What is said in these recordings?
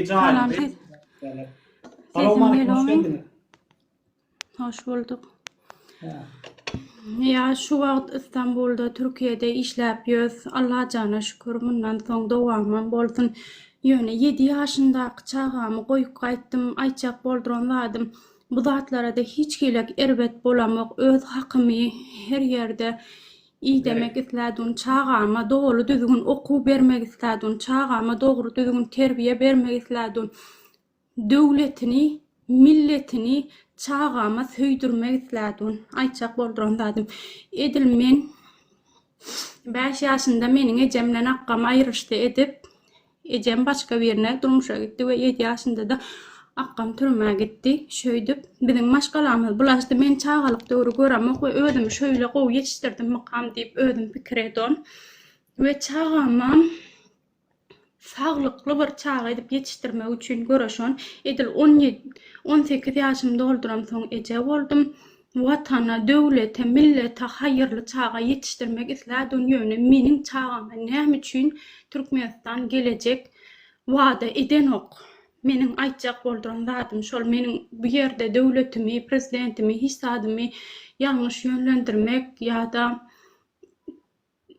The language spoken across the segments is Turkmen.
Kanal ses. Sesim gelomi? Hoş bulduk. Ya şu wagt İstanbul'da, Türkiye'de işläp ýöz. Allah jana şükür, mundan soň dowamam bolsun. Ýöne 7 ýaşyndaky çagamy goýup gaýtdym, aýtjak bolduran zadym. Bu zatlara-da hiç hili erbet bolamok, öz hakymy her ýerde Idemek isläduny çagama doly düzgün okuw bermek isläduny çagama dogry düzgün terbiýe bermek isläduny döwletini milletini çagama söýdürmek isläduny aýtjak bolduran zadym edil men bäş ýaşynda meniň ejemden akgam aýryşdy edip Ejem başga birine durmuşa gitdi we ýedi ýaşynda-da akgam türmä gitdi. Şöýdüp, biziň maşgalamyz bulaşdy. Men çagalyk döwri göremok we özümi şöýle gowy ýetişdirdimmikam diýip özüm pikir edon we çagamam saglykly bir çaga edip ýetişdirmek üçin göreşon. Edil on ýedi, on sekiz ýaşymy dolduramsoň eje boldum. Watana, döwlete, millete haýyrly çaga ýetişdirmek islädugyn ýöne meniň çagama näme üçin Türkmenistan gelejek wada edenok? Meniň aýtjak bolduran zadym şol meniň bu ýerde döwletimi, prezidentimi hiç zadymy ýalňyş ýönlendirmek ýada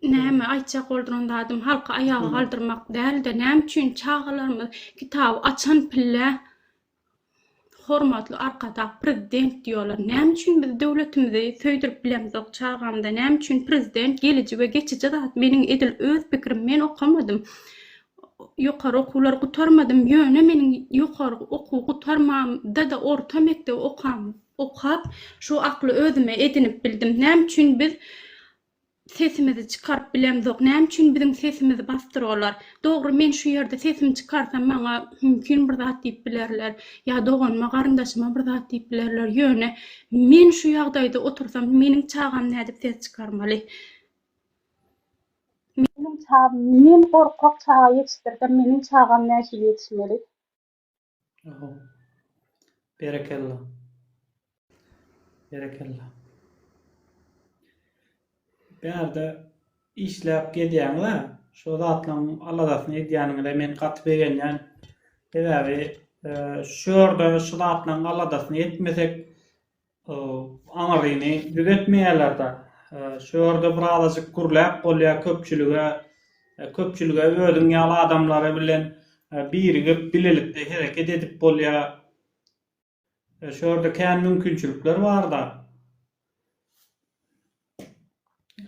näme aýtjak bolduran zadym halky aýaga galdyrmak dälde näme üçin çagalarymyz kitaby açan pille Hormatly Arkadag Prezident diýýäler. Näme üçin biz döwletimizi söýdürip bilemzok çagamyza? Näme üçin Prezident geliji we geçiji zat? Meniň edil öz pikirim men okamadym. Ýokary okuwlary gutarmadym. Ýöne meniň ýokary okuw gutarmamda-da orta mekdebi okap şu akly özüme edinip bildim. Näme üçin biz sesimizi çykaryp bilemzok näme üçin biziň sesimizi basdyrarlar dogry men şu ýerde sesimi çykarsam maňa mümkin bir zat diýip bilerler ýa doganyma garyndaşyma bir zat diýip bilerler ýöne men şu ýagdaýda otursam meniň çagam nädip ses çykarmaly meniň çagam men gorkak çaga ýetişdirsem meniň çagam nähili ýetişmeli. Oho. Berekella. Berekella. Bärde işläp gezýäňiz-ä. Şo zatlaryň aladasyny edýäniňize men gaty begenýän. Sebäbi şu ýerde şu zatlaryň aladasyny etmesek, Aňryny düzetmeýärler-de. Şu ýerde bir azajyk gürläp bolýar köpçülige. Köpçülige özüň ýaly adamlary bilen birigip, bilelikde hereket edip bolýar. Şu ýerde kän mümkinçilikler bar-da.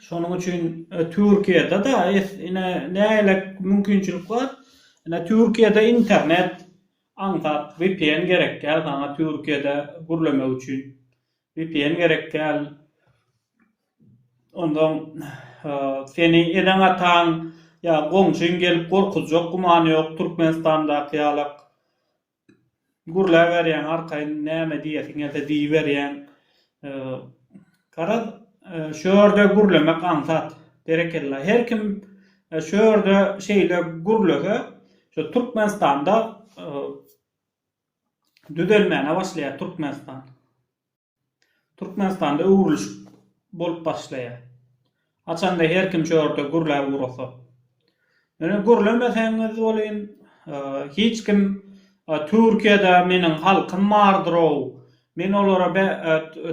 Şonuň üçin e, Türkiýede de ine näle mümkinçilik bar. Ine Türkiýede internet aňsat VPN gerek däl saňa Türkiýede gürlemek üçin. VPN gerek däl. Ondan e, seni eden ataň ýa goňşyň gelip gorkuzjak gumany ýok Türkmenistandaky ýalak. Gürläberýäň arkaýyn näme diýesiň gelse diýiberýäň. Garaz, şu ýerde gürlemek aňsat. Berekella. Her kim şu ýerde şeýle gürlese, şu Türkmenistanda düzelmäne başlaýar Türkmenistan. Türkmenistanda öwrüliş bolup başlaýar. Haçanda her kim şu ýerde gürläp ugrasa. Ýöne gürlemeseňiz welin, hiç kim Türkiýede meniň halkym bardyr-ow, men olara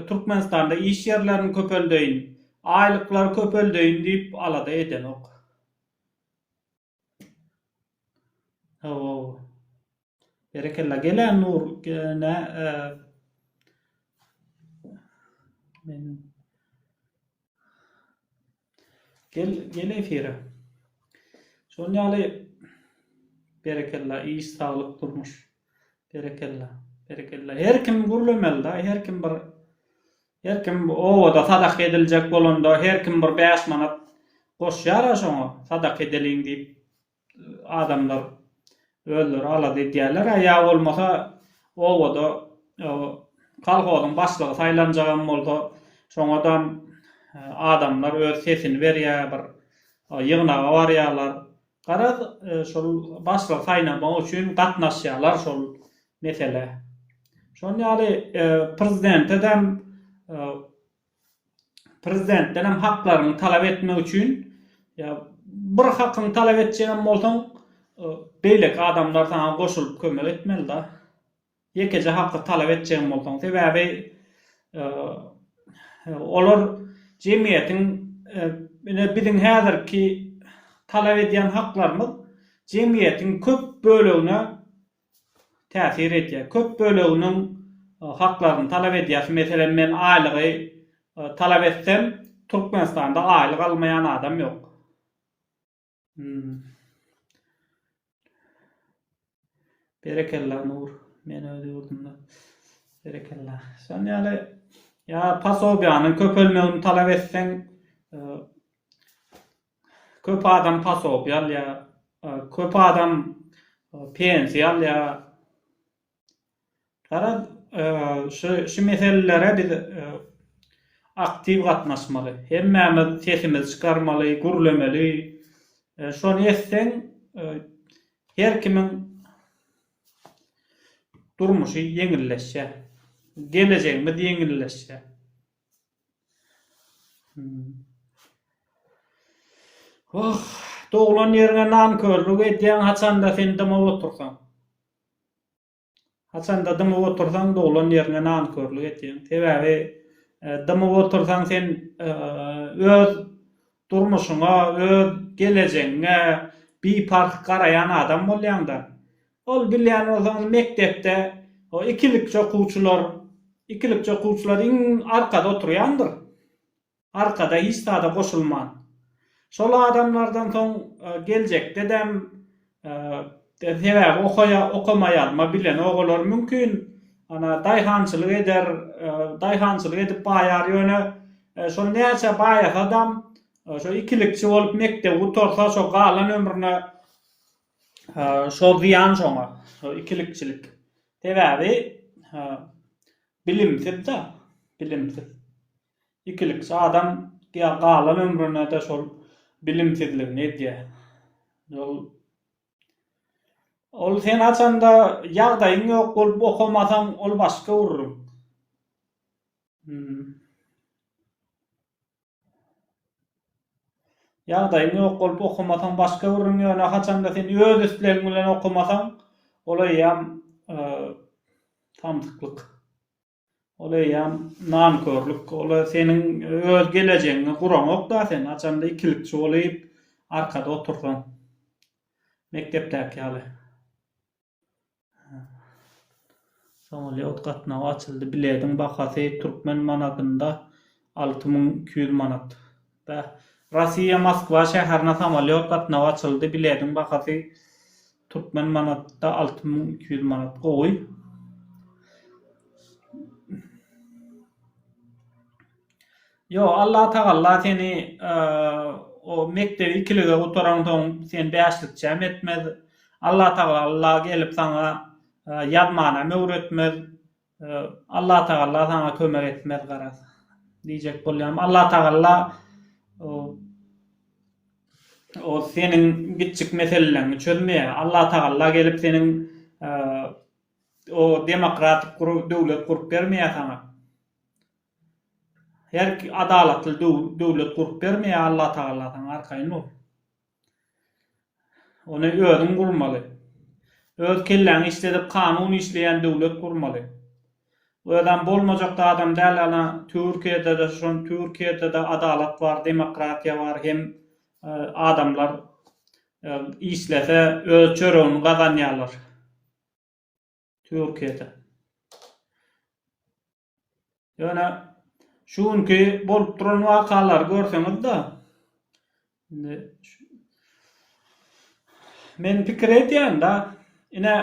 Türkmenistanda iş ýerlerini köpeldeýin, aýlyklary köpeldeýin diýip alada edenok. Hawa. Berekella gele nur gene men gel gel efire. Şol ýaly berekella iş saglyk durmuş. Berekella. Berekella. Her kim gürlemeli da, her kim bir Her kim bu obada sadaka ediljek bolanda, her kim bir bäş manat goşýar-a şoňa, sadaka edeliň diýip, adamlar özleri alada edýärler-ä, ýa bolmasa obada kolhozyň başlygy saýlanjagam bolsa, şoňadam adamlar öz sesini berýär, bir ýygnaga barýarlar, Garaz, şol başlygy saýlamak üçin gatnaşýarlar şol meselä. Şon ýaly prezidente dem prezidentden hem haklaryňy talap etmek üçin ýa bir hakyňy talap etjegem bolsaň beýleki adamlar saňa goşulyp kömek etmeli da. Ýekeje haky talap etjegim bolsaň, sebäbi olar jemgyýetiň, ine biziň häzirki talap edýän haklarymyz jemgyýetiň köp bölegine täsir edýär. Köp böleginiň haklaryny talap edýäs. Meselem, men aýlygy talap etsem, Türkmenistanda aýlyk almaýan adam ýok. Berekella Nur. Men öz ýurdumda. Berekella. Şonuň ýaly ýa pasobiýanyň köpelmegini talap etseň e, köp adam pasobiýa alýar, e, köp adam e, pensiýa alýar. Garaz, şu şu meselelere biz aktiw gatnaşmaly. Hemmämiz sesimizi çykarmaly, gürlemeli. Şony etseň, her kimiň durmuşy ýeňilleşýär. Gelejegimiz ýeňilleşýär. Wah, doglan ýeriňe nankörlük edýäň, haçanda sen dymyp otursaň. Haçanda dymyp otursaň doglan ýerine nankörlik etýäň. Sebäbi dymyp otursaň sen öz durmuşyňa, öz gelejegiňe biparh garaýan adam bolýaňda. Ol bilýän bolsaňyz mekdepde o ikilikçi okuwçylar, ikilikçi okuwçylar iň arkada oturýandyr. Arkada hiç zada goşulman. Şol adamlardan soň geljekdedem sebäbi okaýa okamaýalma bilen ogalar mümkin ana daýhançylyk eder daýhançylyk edip baýar ýöne şol näçe baýasadam şo ikilikçi bolup mekdebi gutarsa şo galan ömrüne şo zyýan şoňa şo ikilikçilik sebäbi bilimsiz da bilimsiz. Ikilikçi adam galan ömrünede şol bilimsizligini edýä. Ol Ol sen haçanda ýagdaýyň ýok bolup okamasaň ol başga urruň. Hmm. Ýagdaýyň ýok bolup okamasaň başga urruň ýöne haçanda sen öz islegiň bilen okamasaň ol eýýam e, samsyklyk. Ol eýýäm nankörlük. Ol-a seniň öz gelejegiňi guraňok-da sen, haçanda ikilikçi bolup arkada otursaň. Mekdepdäki ýaly. Samolýot gatnawy açyldy. Bilediň bahasy türkmen manadynda alty müň iki ýüz manat. Russiýa Moskwa şäherine samolýot gatnawy açyldy, bilediň bahasy türkmen manatda alty müň iki ýüz manat gowy. Ýo Allah tagalla seni o mekdebi ikilige gutaran soň sen bäşlikçäm etmez, Allah tagalla gelip saňa ýazmanam öwretmez, Allatagalla saňa kömek etmez garaz. Diýjek bolýam Allatagalla o seniň giçjik meseleleňi çözmeýär. Allatagalla gelip seniň o demokratik gurup döwlet gurup bermeýär saňa. Her adalatly döwlet gurup bermeýär Allatagalla saňa arkaýyn bol. Ony özüň gurmaly. Öz kelläňi işledip kanun işleýän döwlet gurmaly. Özem bolmajakda adam däl ana türkiýedede şon türkiýedede adalat bar demokratiýa bar hem adamlar işlese öz çöregini gazanýarlar türkiýede. Ýöne şu günki bolup duran wakalary görseňiz-de, indi men pikir edýän-de, ine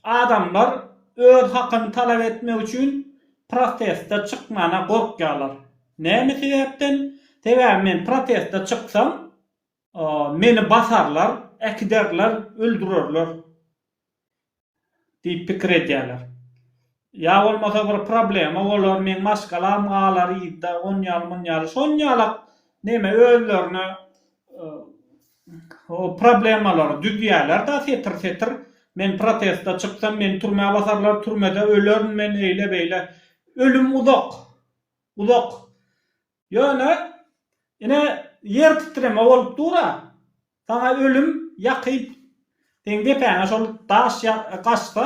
adamlar öz hakyny talap etmek üçin proteste çykmana gorkýarlar. Näme sebäpden? Sebäbi men proteste çyksam, Meni basarlar, äkiderler, öldürerler diýip pikir edýärler. Ýa bolmasa bir problema bolar, meň maşgalam galar yzda, onýaly-munýaly. Şonuň ýaly neme özlerine problemalary düzýärler-de setir-setir. Men protesta çyksam, meni türmä basarlar, türmede ölerin men, eýle-beýle. Ölüm uzak. Uzak. Ýöne, ine, ýer titreme bolup dur-a, saňa ölüm ýakyn. Seň depäňe şol daş gaçsa,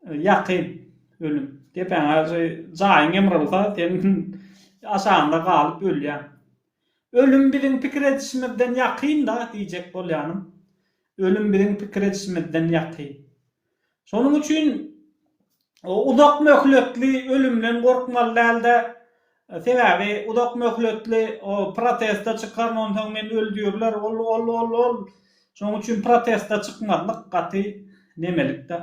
ýakyn ölüm. Depäňe şu jaýyň ýymrylsa, sen aşagynda galyp ölýäň. Ölüm biziň pikir edişimizden ýakyn-da diýjek bolýanym. Ölüm biziň pikir edişimizden ýakyn. Şonuň üçin uzak möhletli ölümden gorkmaly däl-de, sebäbi uzak möhletli proteste çykaryn, onsoň meni öldürirler, ol, ol, ol, ol. Şonuň üçin proteste çykmazlyk gaty nemelik-dä,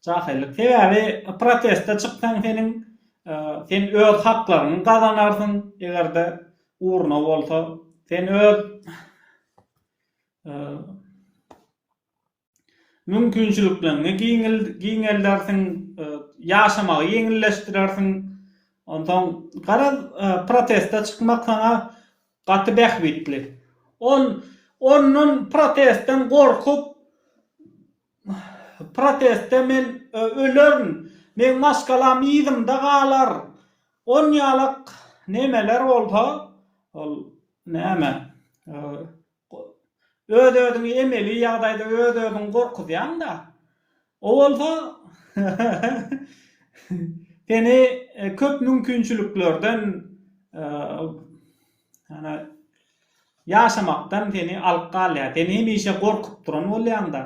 jahyllyk. Sebäbi proteste çyksaň seniň, sen öz haklaryňy gazanarsyň, eger-de urna bolsa, sen öz, mümkinçilikleriňi giňeldersiň, ýaşamagy ýeňilleşdirersiň. Onsoň, garaz, proteste çykmak saňa gaty bähbitli. Ol ondan protestden gorkup, protestde men ölerin, meň maşgalam yzymda galar, onýalak nemeler bolsa, ol näme, Öz-özüňi emeli ýagdaýda öz-özüňi gorkuzýaň-da. O bolsa seni köp mümkinçiliklerden ýaşamakdan seni alyp galýar. Sen hemişe gorkup duran bolýaň-da.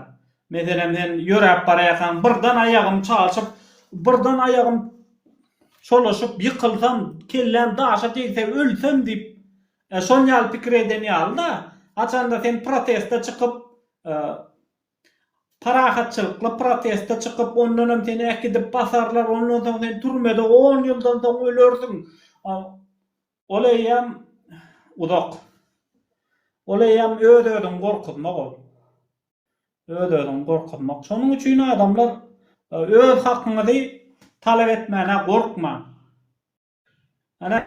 Meselem, sen ýöräp barýarkaň, birden aýagym çalşyp, birden aýagym çolaşyp ýykylsam, kelläm daşa degse, ölsem diýip, E şol ýaly pikir eden ýaly-da, haçanda sen proteste çykyp, parahatçylykly proteste çykyp, ondanam seni äkidip basarlar, ondan soň sen türmede on ýyldan soň ölersiň. Ol eýýäm uzak. Ol eýýäm öz-özüňi gorkuzmak ol. Öz-özüňi gorkuzmak. Şonuň üçin adamlar öz hakyňyzy talap etmäne gorkmaň. Ana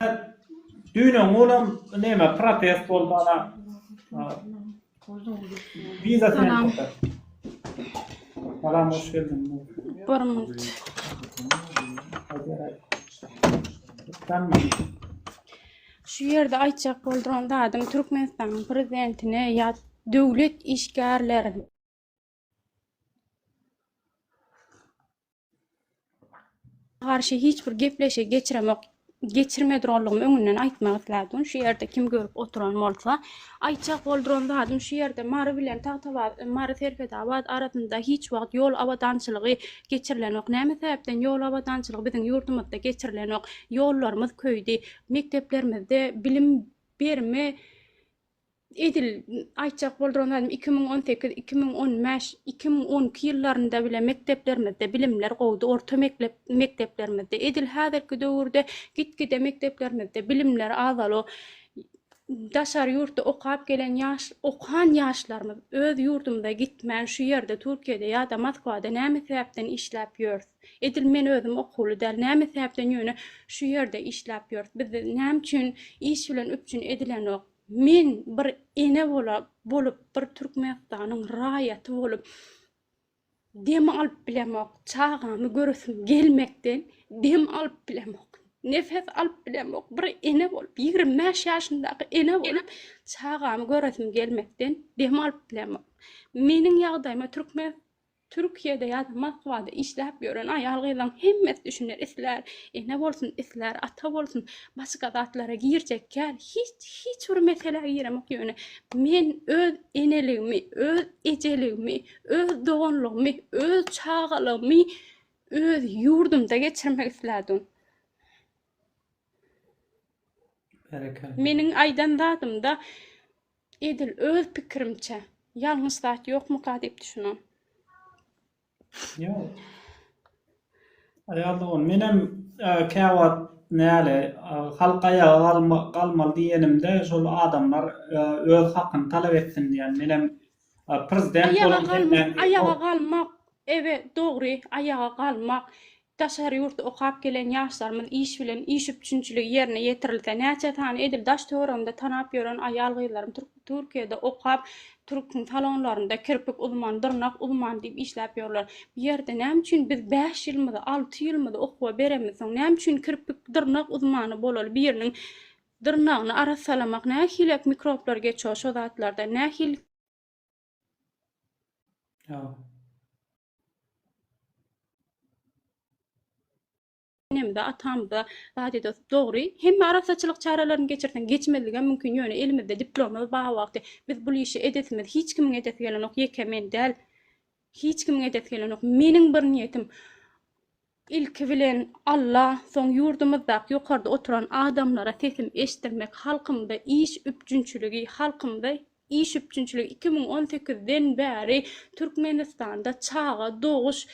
düýn oňulam näme protest boldy ana. Bize sen Salam. tokat. Salam hoş geldin. Bir minut. Sen Şu ýerde aýtjak boldum zadym Türkmenistanyň prezidentine ýa döwlet işgärlerine garşy hiç bir gepleşik geçiremok geçirmedirolugum öňünden aýtmak islädim şu ýerde kim görüp oturan bolsa aýtjak bolduran zadym şu ýerde mary bilen tagtabaz mary serfedabad arasynda hiç wagt ýol abadançylygy geçirilenok näme sebäpden ýol abadançylygy biziň ýurdumyzda geçirilenok ýollarymyz köýdi mekdeplerimizde bilim berme edil aýtjak bolduran zadym iki müň on sekiz iki müň on bäş iki müň on iki ýyllarynda bile mekdeplerimizde bilimler gowdy orta meklep mekdeplerimizde edil häzirki döwürde gitgide mekdeplerimizde bilimler azalo daşary ýurtda okap gelen ýaş okan ýaşlarymyz öz ýurdumyza gitmän şu ýerde türkiýede ýa-da moskwada näme sebäpden işläp ýörs Edil men özüm okuwly däl. Näme sebäpden ýöne şu ýerde işläp ýörüs? Bizde näme üçin iş bilen üpjün edilenok? Men bir ene bola bolup, bir Türkmenistanyň raýaty bolup dem alyp bilemok. Çagamy göresim gelmekden dem alyp bilemok. Nefes alyp bilemok. Bir ene bolup, ýigrimi bäş ýaşyndaky ene bolup, çagamy göresim gelmekden dem alyp bilemok. Meniň ýagdaýyma Türkmen Türkiýede ýa-da Moskwada işläp ýören aýal-gyzlaryň hemmesi düşüner, islär ene bolsun, islär ata bolsun, başga zatlara girjek däl, hiç, hiç bir meselä giremok, ýöne men öz eneligimi, öz ejeligimi, öz doganlygymy, öz çagalygymy öz ýurdumda geçirmek islädim. Berekella. Meniň aýdan zadymda Edil öz pikirimçe. Ýalňyş zat ýokmyka diýip düşünen. Ýok. Aýal dogan, menem käwagt näle, halk aýaga galmaly diýenimde, şol adamlar öz hakyny talap etsin diýen. Menem prezident bolan Aýaga galmak, ewe, dogry, aýaga galmak. Daşary ýurtda okap gelen ýaşlarymyz iş bilen iş üpjünçiligi ýerine ýetirilse, näçe sany edil daş-töweregimde tanap ýören aýal-gyzlarym Türkiýede okap, türküň salonlarynda kirpik uzman, dyrnak uzman diýip işläp ýörler. Bu ýerde näme üçin biz bäş ýylymyzy, alty ýylymyzy okuwa beremizsoň, näme üçin kirpik, dyrnak uzmany bolaly biriniň dyrnagyny arassalamak nähilek mikroplar geçýär şo zatlardan, nähili. enemde, atamda zat edýär. Dogry, hemme arassaçylyk çärelerini geçirseň, geçmezligem mümkin, ýöne elimizde diplomymyz bar wagty biz bul işi edesimiz, hiç kimiň edesi gelenok, ýeke men däl. Hiç kimiň edesi gelenok. Meniň bir niýetim, Ilki bilen Alla, soň ýurdumyzdaky ýokarda oturan adamlara sesim eşdirmek halkymda iş üpjünçiligi halkymda iş üpjünçiligi iki müň on sekiz den bäri Türkmenistanda çaga doguş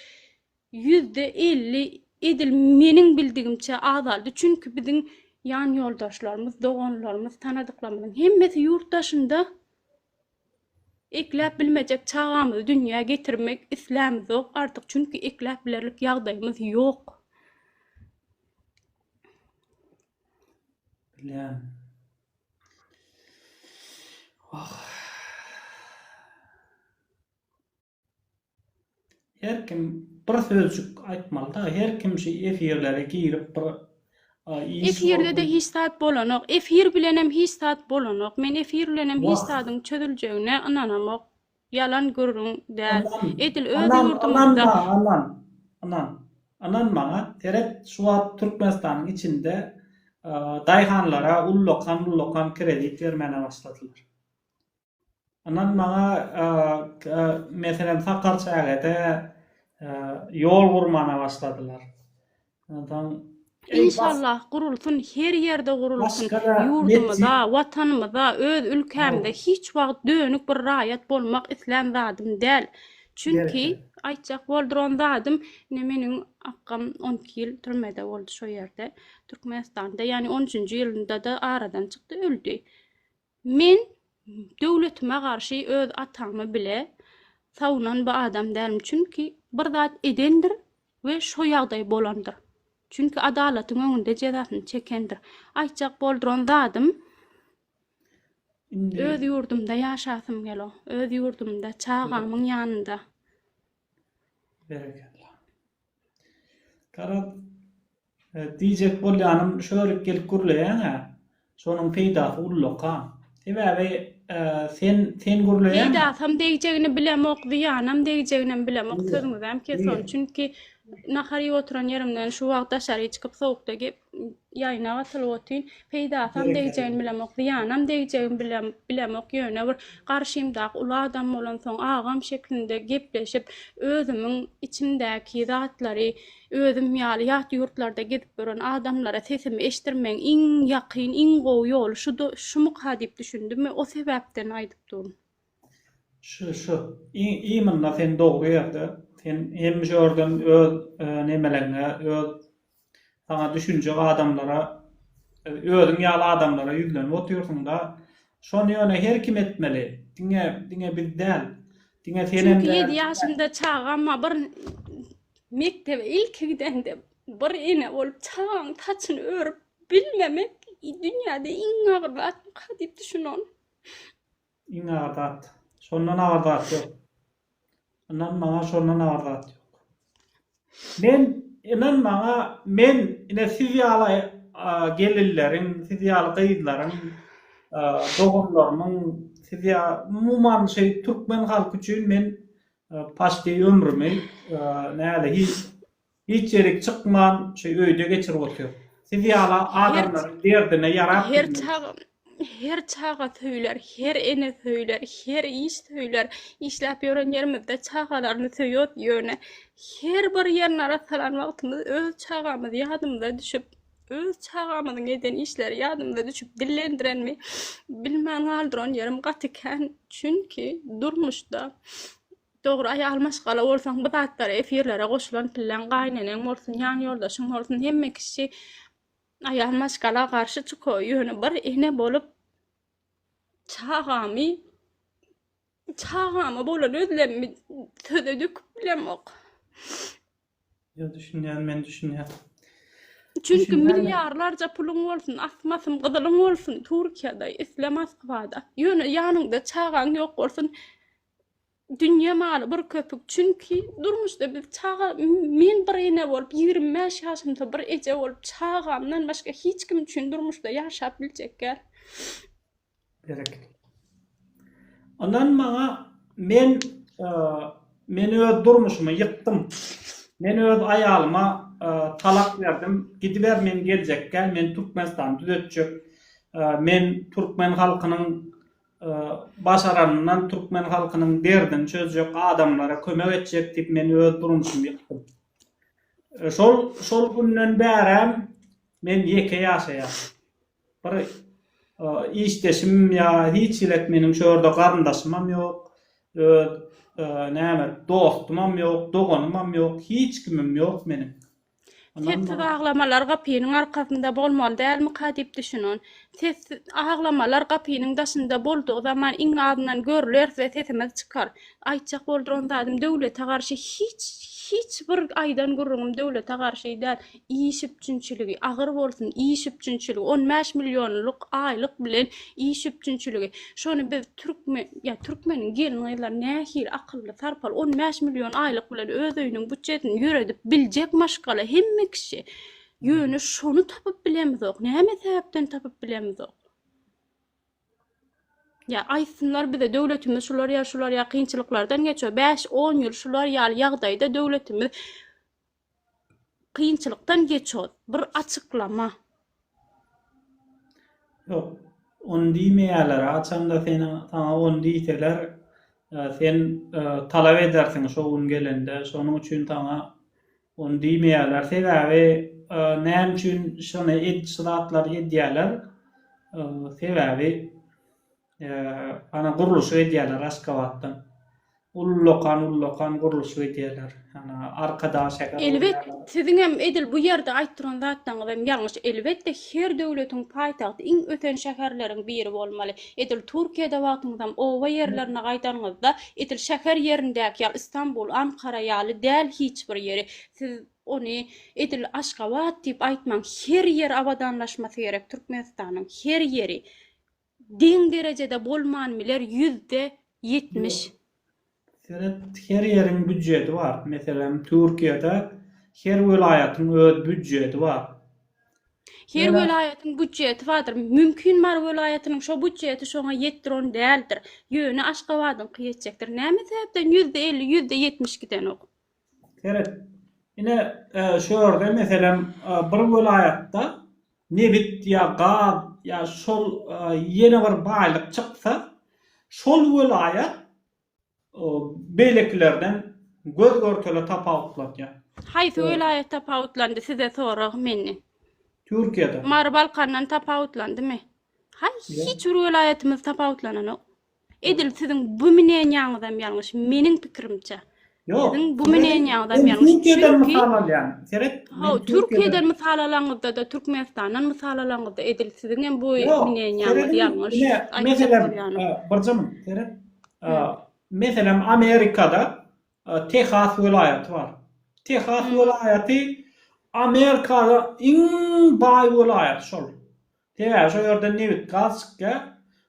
ýüzde elli edil meniň bildigimçe azaldy çünki biziň ýan ýoldaşlarymyz doganlarymyz tanadyklarymyzyň hemmesi ýurt daşynda Ekläp bilmejek çagamyzy dünýä getirmek islämizok artyk çünki ekläp bilerlik ýagdaýymyz ýok. Bilýän. Wah. Her kim bir sözcük aýtmalyda her kim şu efirlere girip bir Efirlede hiç zat bolanok. Efir bilenem hiç zat bolanok. Men efir bilenem hiç zadyň çözüljegine ynanamok. Ýalan gürrüň däl. Edil öz ýurdumyzda Aman, aman, ynan maňa, seret şu wagt Türkmenistanyň içinde daýhanlara ullakan-ullakan kredit bermäne başladylar. Inan maňa meselem Sakar çägede ýol gurmana başladylar. Ondan Inşallah gurulsun, her ýerde gurulsun. Ýurdumyza, watanymyza, öz ülkämize hiç wagt dönük bir raýat bolmak islän zadym däl. Çünki aýtjak bolduran zadym, ine meniň akgam 12 ýyl türmede boldy şo ýerde, Türkmenistanda, ýagny 13-nji ýylynda-da aradan çykdy, öldi. Men döwletime garşy öz atamy bile savunan bir adam dälm çünki bir zat edendir we şo ýagdaý bolandyr çünki adalatyň öňünde jezasyny çekendir aýtjak bolduran zadym öz ýurdumda ýaşasym gelo öz ýurdumda çagamyň ýanynda. Berekella. Garaz Diýjek bolýanym, şular gelip gürleýäň-ä, şonuň peýdasy ulluk-a. Sebäbi sen, sen gürleýäň. Peýdasam degjegini bilemok, zyýanam degjeginem bilemok, sözüňizem kes ony, çünki nahar iýip oturan ýerimden şu wagt daşary çykyp sowukda gep, ýaýyna gatylyp otyryn, peýdasam degjegini bilemok, zyýanam degjegini bilem, bilemok, ýöne bir garşymdaky uly adam bolansoň, agam şeklinde gepleşip, özümiň içimdäki zatlary Özüm ýaly ýat ýurtlarda gezip ýören adamlara sesimi eşitdirmegiň iň ýakyn, iň gowy ýoly şumyka diýip düşündim we o sebäpden aýdyp durun. Şu şu. Iý munda sen dogry ýerde. Sen hemişe ýörden öz nemeleňe, öz saňa düşünjek adamlara, özüň ýaly adamlara ýüzlenip otyrsyňda, Şony ýöne her kim etmeli. Diňe diňe biz däl. Diňe senem Çünki däl. 7 ýaşymda çagama bir mekdebe ilki gidende bir ene bolup çagaň saçyny örüp bilmemek i- dünýäde iň agyr zatmyka diýip düşünon. Iň agyr zat. Şondan agyr zat ýok. Ynan maňa şondan agyr zat ýok. Men ynan maňa men ine siz ýaly gelinleriň, siz ýaly gyzlaryň, doganlarymyň, siz ýaly umuman şeý türkmen halky üçin men paşti ömrümi nälehi Hiç ýerik çykman şu öýde geçirip otyr. Siz ýala adamlaryň derdine ýarap bilmez. Her çaga söýler, her ene söýler, her iş söýler. Işläp ýören ýerimizde çagalaryny söýüos ýöne her bir ýerini arassalan wagtymyz öz çagamyz ýadymyza düşüp, öz çagamyzyň eden işleri ýadymyza düşüp dillendirenmi bilmän galdyran ýerim gaty kän. Çünki durmuşda Dogry aýal maşgala bolsaň bu zatlar efirlere goşulan pilläň gaýneneň bolsun ýan ýoldaşyň bolsun hemme kişi aýal maşgala garşy çyko ýöne bir ene bolup çagamy çagama bolan özlemmi söze döküp bilemok. Ýa düşünýän men düşünýän. Çünki milliarlarca puluň bolsun, asmasym gyzylyň bolsun Türkiýede, isle Moskwada. Ýöne ýanyňda çagaň ýok bolsun. Dünýe maly bir köpük, çünki durmuşda biz çaga, men bir ene bolup, ýigrimi bäş ýaşymda bir eje bolup, çagamdan başga hiç kim üçin durmuşda ýaşap biljek däl. Berekella. Ynan maňa, men, men öz durmuşymy ýykdym. Men öz aýalyma talak berdim, gidiber men geljek däl, men Türkmenistany düzetjek, men türkmen halkynyň Başaranyndan türkmen halkynyň derdini çözjek, adamlara kömek etjek diýip men öz durmuşymy ýykdym. Şol şol günden bärem men ýeke ýaşaýan. Bir işdeşim ýa hiç hilet meniň şu ýerde garyndaşymam ýok. Öz näme dostumam ýok, doganymam ýok, hiç kimim ýok meniň. Sessiz aglamalar gapynyň arkasynda bolmaly dälmika diýip düşünün. Sessiz aglamalar gapynyň daşynda boldugy zaman iň azyndan görleris we sesimiz çykar. Aýtjak bolduran zadym döwlete garşy hiç hiç bir aýdan gürrüňim döwlete garşy däl. Iş üpjünçiligi, agyr bolsun, iş üpjünçiligi, on bäş millionlyk aýlyk bilen iş üpjünçiligi. Şony biz Türkmen, ya Türkmeniň gelin gyzlar nähili akylly, sarpaly, 15 milyon aylyk bilen öz öýüniň bütçesini ýöredip biljek maşgala hemme kişi. Ýöne şony tapyp bilemizok. Näme sebäpden tapyp bilemizok? Ya aýtsynlar bize döwletimiz şular ya şular ya kynçylyklardan geçiyor. 5-10 ýyl şular ýaly ýagdaýda döwletimiz Kynçylykdan geçýod. Bir açyklama. Ýok, ony diýmeýärler. Haçanda seniň saňa ony diýseler, sen talap edersiň şo gün gelende. Şonuň üçin saňa ony diýmeýärler. Sebäbi näme üçin şony şu zatlary edýärler? Sebäbi. Ana gurluşyk edýärler Aşgabatdan. Ullakan ullakan gurluşyk edýärler. Ana Arkadag şäher. Elbet siziňem edil bu ýerde aýt duran zatlaňyzam ýalňyş. Elbetde her döwletiň paýtagty iň ösen şäherleriň biri bolmaly. Edil Türkiýede wagtyňyzam oba ýerlerine gaýdanyňyzda edil şäher ýerindäki ýaly Istanbul, Ankara ýaly däl hiç bir ýeri. Siz ony edil Aşgabat diýip aýtmaň. Her ýer abadanlaşmasy gerek Türkmenistanyň. Her ýeri. Deň derejede bolman biler ýüzde ýetmiş. Seret her ýeriň býudjeti bar. Meselem Türkiýede her welaýatyň öz býudjeti bar. Her welaýatyň býudjeti bardyr. Mümkin Mary welaýatynyň şo býudjeti şoňa ýetdiron däldir. Ýöne Aşgabadyňky ýetjekdir. Näme sebäpden ýüzde elli ýüzde ýetmiş gidenok. Seret, ine, şu ýerde, meselem, bir welaýatda nebit ýa gaz ýa şol ýene bir baýlyk çyksa, şol welaýat beýlekilerden göz-görtele tapawutlanýar. Haýsy welaýat tapawutlandy, size sorag meni? Türkiýede. Mary Balkandan tapawutlandymy? Haý, hiç bir welaýatymyz tapawutlananok. Edil siziň bu minenýaňyzam ýalňyş, meniň pikirimçe. Ýok. Siziň bu minenýaňyzam ýalňyş. Türkiýeden mysal alýan. Seret. Ho, Türkiýeden mysal alaňyzda-da, Türkmenistandan mysal alaňyzda edil siziňem bu minenýaňyz ýalňyş. Meselem, birjigim, seret. Meselem, Amerikada Tehas welaýaty bar. Tehas welaýaty Amerikada iň baý welaýat şol. Sebäbi şo ýerden nebit-gaz çykýar.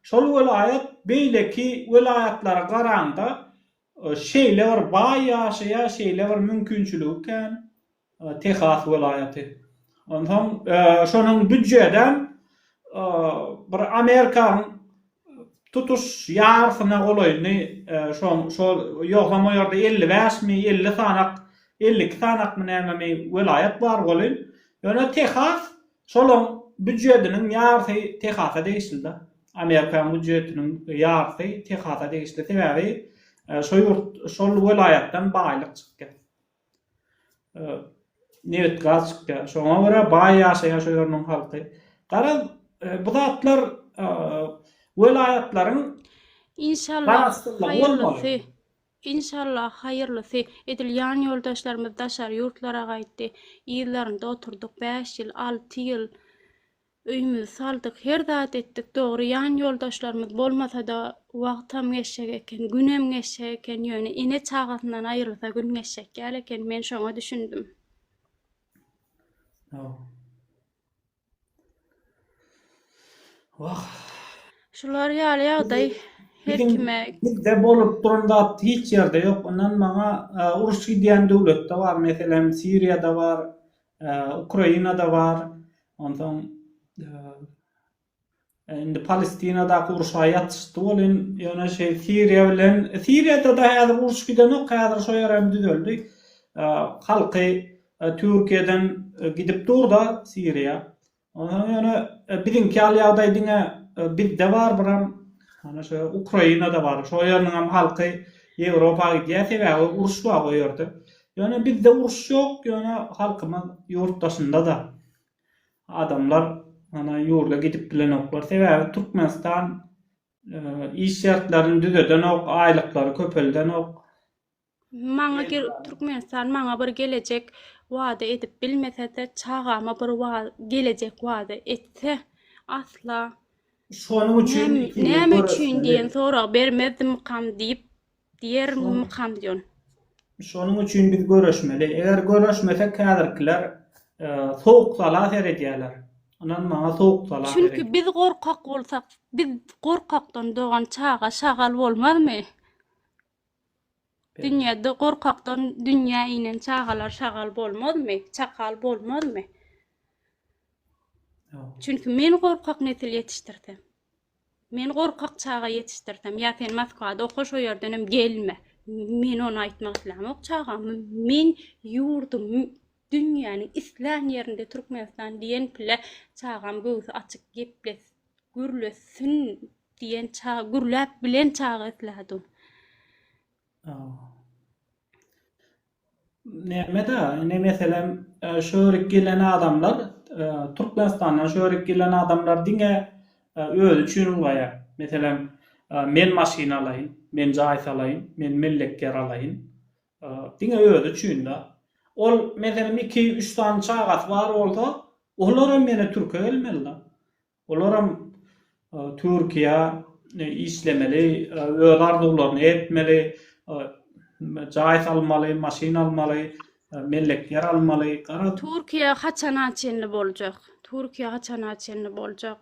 Şol welaýat beýleki welaýatlara garanda şeýle bir baý ýaşaýar, şeýle bir mümkinçiligi kän Tehas welaýaty. Onsoň şonuň býudjedem bir Amerikanyň tutuş ýarysyna golaýyny şol ýogsam o ýerde elli bäşmi, elli sanak, elli iki sanakmy nämemi welaýat bar welin, ýöne Tehas Şolaň býujetiniň ýarysy Tehasa degişli-de. Amerikan býujetiniň ýarysy Tehasa degişli. Sebäbi şo ýurt, şol welaýatdan baýlyk çykýar. Nebit, gaz çykýar. Şoňa görä baý ýaşaýar şo ýeriniň halky. Garaz, bu zatlar welaýatlaryň Inşallah, haýyrlysy. Inşallah haýyrlysy, edil ýan ýoldaşlarymyz daşary ýurtlara gaýtdy, yzlarynda oturdyk bäş ýyl, alty ýyl, öýümizi saldyk, her zat etdik, dogry ýan ýoldaşlarymyz bolmasada wagtam geçjek eken, günem geçjek eken, ýöne ene çagasyndan aýrylsa gün geçjek ýaly eken, men şoňa düşündim. Wah. Şular ýaly ýagdaý her kime. Bizde bolup duran zat hiç ýerde ýok. Ondan maňa e, uruş gidýän döwletde bar. Meselem, Siriýada bar, e, Ukrainada bar. Ondan e, Indi Palestinadaky urşa ýatyşdy welin, ýöne şeý Siriýa bilen, Siriýada-da häzir uruş gidenok, häzir şo ýer hem düzeldi. Halky Türkiýeden gidip dur-da Siriýa. Onsoň ýöne biziňki ýaly ýagdaý diňe bizde barbyram, ýöne şo Ukrainada bar. Şo ýeriniň hem halky Ýewropa gidýär, sebäbi uruş bar o ýerde. Ýöne bizde uruş ýok, ýöne halkymyz ýurt daşynda-da. Adamlar ana ýurda gidip bilenoklar, sebäbi Türkmenistan iş şertlerini düzedenok, aýlyklary köpeldenok. Maňa Türkmenistan maňa bir gelejek wada edip bilmese-de, çagama bir gelejek wada etse, asla Şonuň üçin näme üçin diýen sorag bermezdimikam diýip Diýer mykam diýon. Şonuň üçin biz göreşmeli. Eger göreşmesek häzirkiler sowuk sala seredýärler. Ynan maňa sowuk sala seredýärler. Çünki biz gorkak bolsak, biz gorkakdan dogan çaga şagal bolmazmy? Dünýäde gorkakdan dünýä inen çagalar şagal bolmazmy? Çakal bolmazmy? Çünki men gorkak nesil ýetişdirsem. Men gorkak çaga ýetişdirsem, ýa sen Moskwada oka, şo ýerdenem gelme. Men ony aýtmak islämok çagam. Men ýurdum, dünýäniň islän ýerinde Türkmenistan diýen pile çagam göwsi açyk geples, gürlesin diýen çaga, gürläp bilen çaga islädim. Nämedä indi meselem şu ýerik gelen adamlar Türkmenistandan şu ýerik gelen adamlar diňe özi üçin ulgaýar. Meselem men maşyn alaýyn, men jaý salaýyn, men mellek ýer alaýyn. Diňe özi üçin-dä. Ol meselem iki üç sany çagasy bar bolsa olar hem ýene türke gelmeli-dä. Olaram Türkiýä işlemeli, öz arzuwlaryny etmeli, jaý salmaly, maşyn almaly, mellek ýer almaly. Türkiýe haçana çenli boljak? Türkiýe haçana çenli boljak?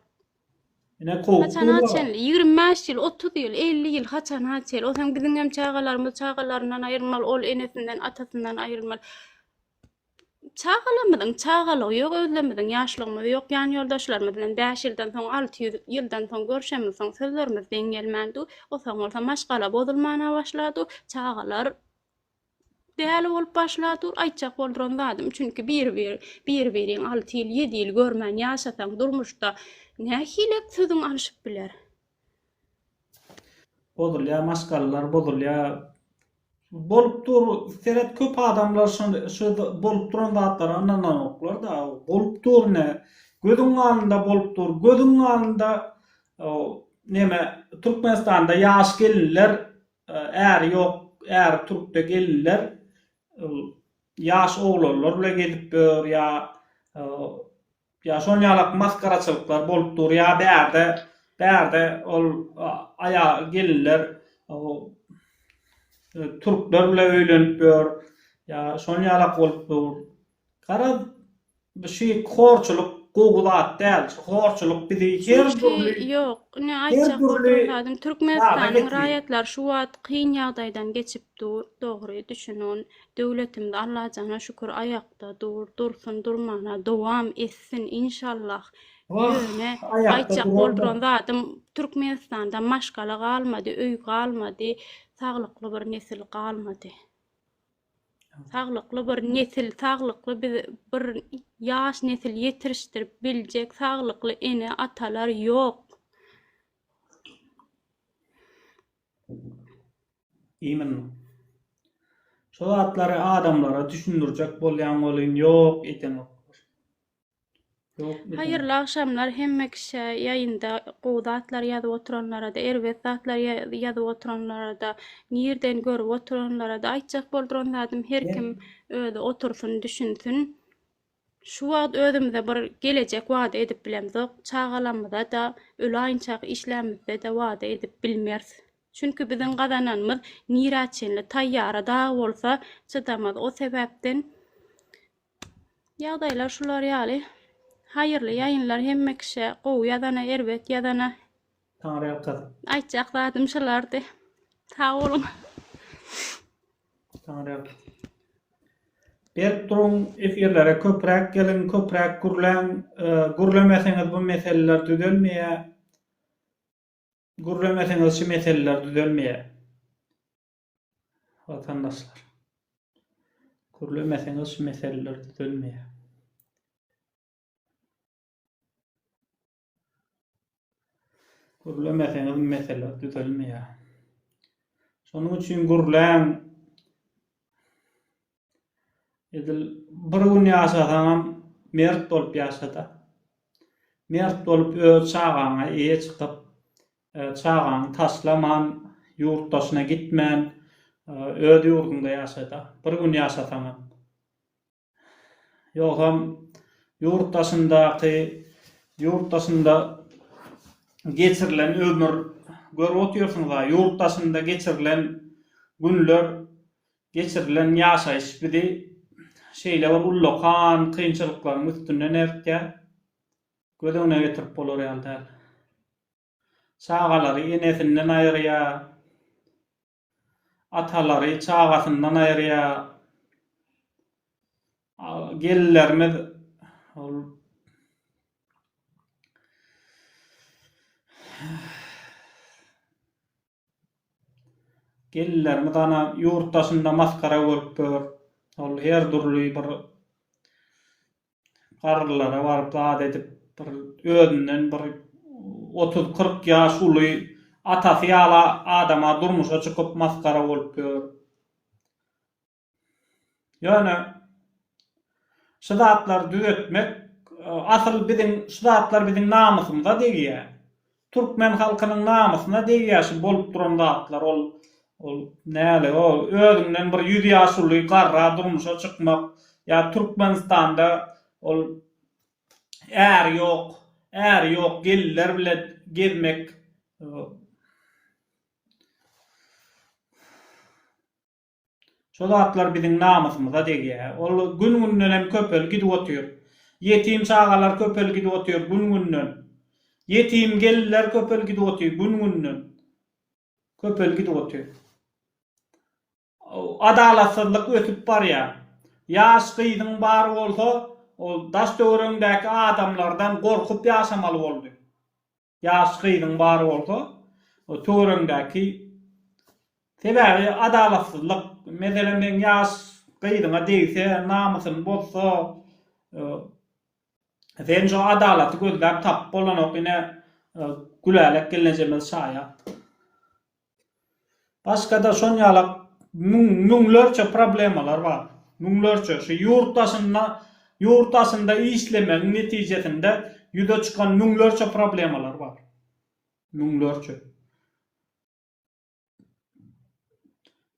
Ine kowup durlar. Haçana çenli? Ýigrimi bäş ýyl, otuz ýyl, elli ýyl haçana çenli? Ol hem biziňem çagalarymyz çagalaryndan aýrylmaly, ol enesinden, atasyndan aýrylmaly. Çagalarymyzyň çagalygy ýok, özlerimiziň ýaşlygymyz ýok, ýan ýoldaşlarymyz bilen bäş ýyldan soň, alty ýüz ýyldan soň görşemiz, soň sözlerimiz deň gelmän dur, o soň bolsa maşgala bozulmana başla dur, çagalar däli bolup başla dur, aýtjak bolduran zadym, çünki bir bir, bir biriň alty ýyl, ýedi ýyl görmän ýaşasaň durmuşda nähili sözüň alyşyp biler? Bozulýar maşgalalar bozulýar. Bolup dur seret köp adamlar şol şu bolup duran zatlara ynananoklar da bolup dur ne gözüň alynda bolup dur gözüň alynda neme Türkmenistanda ýaş gelinler äri ýok äri türkde gelinler ýaş oglanlar bilen gezip ýör ýa Ýa şol ýalak masgaraçylyklar bolup dur ýa bärde bärde ol aýa gelinler türkler bile öýlenip ýör ýa şol ýalak bolup dur garaz şu horçulyk gowy zat däl şu horçulyk bizi her dürli ýok ne aýtjak bolduran zadym türkmenistanyň raýatlary şu wagt kyn ýagdaýdan geçip dur dogry düşünün Döwletimiz Allajana şükür aýakda dur, dursun, durmana dowam etsin inşallah. Oh, Ýöne aýakda aýtjak duran bolduran zadym Türkmenistanda maşgala galmady, öý galmady, saglykly bir nesil galmady. Saglykly bir nesil, saglykly biz bir ýaş nesil ýetirişdirip biljek saglykly ene, atalar ýok. Iýmin. Şu zatlary adamlara düşündirjek bolýaň welin ýok edenok. Haýyrly agşamlar hemme kişä ýaýynda gowy zatlar ýazyp oturanlarada erbet zatlar ýazyp oturanlarada nirden görüp oturanlarada aýtjak bolduran zadym her kim özi otursyn düşünsin. Şu wagt özümize bir gelejek wada edip bilemzok, çagalamyza-da, ölaýynçak işlämizde-de wada edip bilmeris. Çünki biziň gazananymyz nirä çenli, taýýara dag bolsa çydamaz. O sebäpden ýagdaýlar şular ýaly. Haýyrly ýaýynlar hemme kişä, gowy ýazana, erbet ýazana. Taňryýalkasyn. Aýtjak zadym şulardy. Sag boluň. Berk duruň, efirlere köpräk geliň, köpräk gürläň, gürlemeseňiz bu meseleler düzelmeýär, gürlemeseňiz şu meseleler düzelmeýär. Watandaşlar. Gürlemeseňiz şu meseleler düzelmeýär. Gürlemeseňiz mesele düzelmeýär. Şonuň üçin gürläň. Edil bir gün ýaşasaňam mert bolup ýaşada. Mert bolup öz çagaňa eýe çykyp, e, çagaňy taşlaman, ýurt daşyna gitmän, e, öz ýurduňda ýaşada. Bir gün ýaşasaňam. Ýogsam ýurt daşyndaky ýurt daşynda geçirilen ömür görüp otyrsyňyza ýurt daşynda geçirilen günler geçirilen ýaşaýyş bizi şeýle bir ullakan kynçylyklaryň üstünden eltýär göz öňüne getirip bolar ýaly däl. Çagalary enesinden aýyrýar. Atalary çagasyndan aýyrýar. Gelinlerimiz ol Gelinlerimiz ana ýurt daşynda masgara bolup ýör. Ol her dürli bir garrylara baryp zat edip bir özünden bir otuz kyrk ýaş uly atasy ýaly adama durmuşa çykyp masgara bolup ýör. Ýöne şu zatlary düzetmek asyl biziň şu zatlar biziň namysymyza degýär. Türkmen halkynyň namysyna degýär şu bolup duran zatlar ol ol näle o özüňden bir ýüz ýaş uly garra durmuşa çykmak ýa Türkmenistanda ol äri ýok äri ýok gelinler bile gezmek o. Şo zatlar biziň namysymyza degýär. Ol gün-günden hem köpelip gidip otyr. Ýetim çagalar köpelip gidip otyr gün-günden. Ýetim gelinler köpelip gidip otyr gün-günden. Köpelip gidip otyr. Adalatsyzlyk ösüp barýar. Ýaş gyzyň bary bolsa, ol daş-töweregiňdäki adamlardan gorkup ýaşamaly boldy. Ýaş gyzyň bar bolsa o töweregiňdäki sebäbi adalatsyzlyk meselem seň ýaş gyzyňa degse namysyny bozsa sen şo adalaty gözläp tapyp bolanok ine gülälek gelnejemiz şaýat. Başga-da şonýaly müňlerçe problemalar bar. Müňlerçe. Şu ýurt daşynda, ýurt daşynda işlemegiň netijesinde ýüze çykan müňlerçe problemalar bar. Müňlerçe.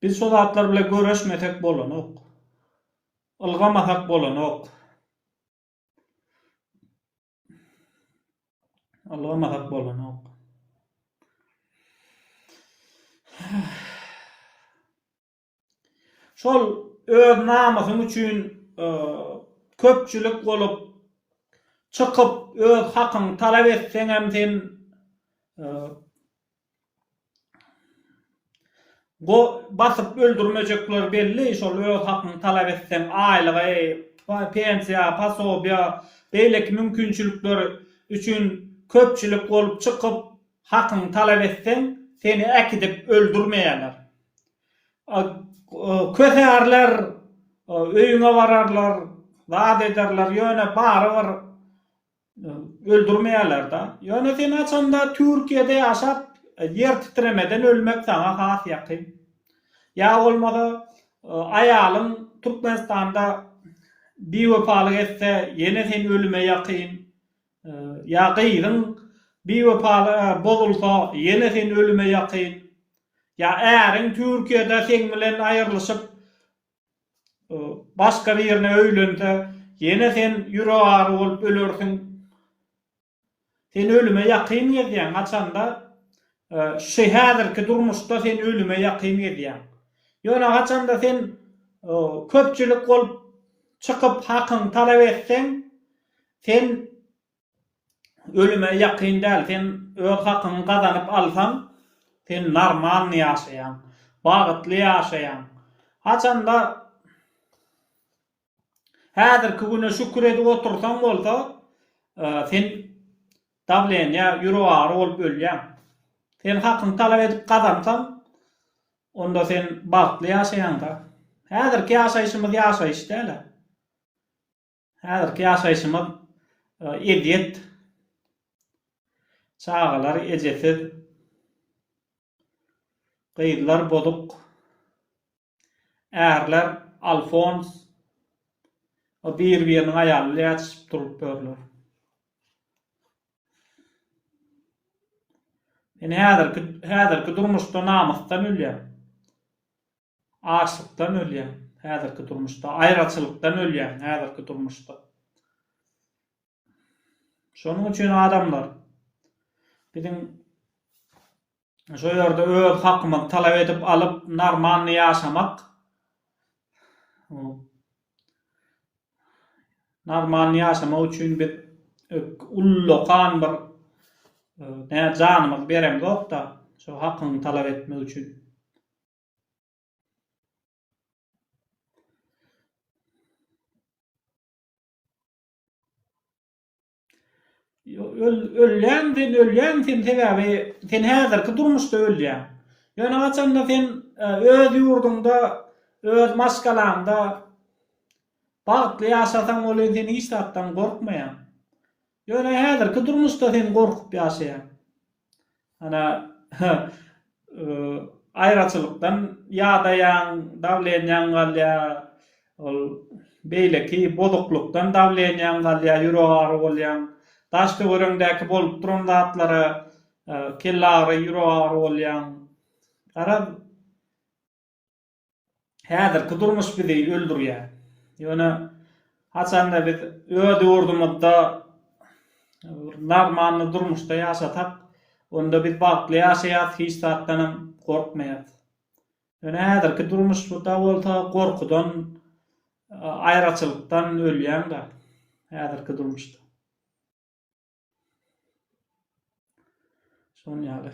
Biz şo zatlar bilen göreşmesek bolanok. Ylgamasak bolanok. Allawa mahak bolanok. Şol öz namysyň üçin e, köpçülik bolup çykyp öz hakyňy talap etseň hem sen e, Go basyp öldürmejekler belli şol öz hakyňy talap etseň aýlyga pensiýa posobiýa beýleki mümkinçilikler üçin köpçülik bolup çykyp hakyňy talap etseň seni äkidip öldürmeýärler kösärler öýüňe bararlar zat ederler ýöne barybir Öldürmeýärler da. Ýöne sen haçanda Türkiýede ýaşap ýer titremeden ölmek saňa has ýakyn. Ýa bolmasa aýalyň Türkmenistanda biwepalyk etse ýene sen ölüme ýakyn. Ýa gyzyň biwepaly bozulsa ýene sen ölüme ýakyn. Ýa äriň Türkiýede seň bilen aýyrlyşyp Başga birine öýlense, ýene sen ýüregary bolup ölersiň. Sen ölüme ýakyn gezýäň, haçanda şu häzirki durmuşda sen ölüme ýakyn gezýäň. Ýöne haçanda sen köpçülik bolup çykyp hakyňy talap etseň, sen Ölüme ýakyn däl sen öz hakyňy gazanyp alsaň sen normalny ýaşaýaň. Bagytly ýaşaýaň. Haçanda häzirki güne şükür edip otursaň bolsa sen dawleniýa ýürek agyry bolup ölýäň. Sen hakyňy talap edip gazansaň onda sen bagtly ýaşaýaňda. Häzirki ýaşaýşymyz ýaşaýyş däl-ä. Häzirki ýaşaýşymyz ezýet. Çagalar ejesiz. Gyzlar bozuk. Ärler alfons. O bir-biriniň aýaly ile ýatyşyp durup ýörler. Men häzirki häzirki durmuşda namysdan ölýän. Açlykdan ölýäň, häzirki durmuşda. Aýraçylykdan ölýäň, häzirki durmuşda. Şonuň üçin adamlar, biziň şo ýerde öz hakymyzy talap edip alyp, normalny ýaşamak, normalny ýaşamak üçin biz ullakan bir ne janymyzy beremzok-da, şo hakyňy talap etmek üçin. Ölýäň sen, ölýäň sen, sebäbi sen häzirki durmuşda ölýäň. Ýöne haçanda sen e, öz ýurduňda, öz maşgalaňda bagtly ýaşasaň bolýar, sen hiç zatdan gorkmaýaň. Ýöne häzirki durmuşda sen gorkup ýaşaýaň. Ana, aýraçylykdan ýadaýaň, dawlenýaň galýar, ol beýleki bozuklykdan dawlenýaň galýar, ýürek agyry bolýaň, daş-töweregiňdäki bolup duran zatlara kelle agyry, ýürek agyry bolýaň. Garaz, Häzirki durmuş bizi öldürýär. Ýöne haçanda biz öz ýurdumyzda normalny durmuşda ýaşasak, onda biz bagtly ýaşaýas, hiç zatdanam gorkmaýas. Ýöne häzirki durmuşda bolsa gorkudan, aýraçylykdan ölýän-de häzirki durmuşda. Şoň ýaly.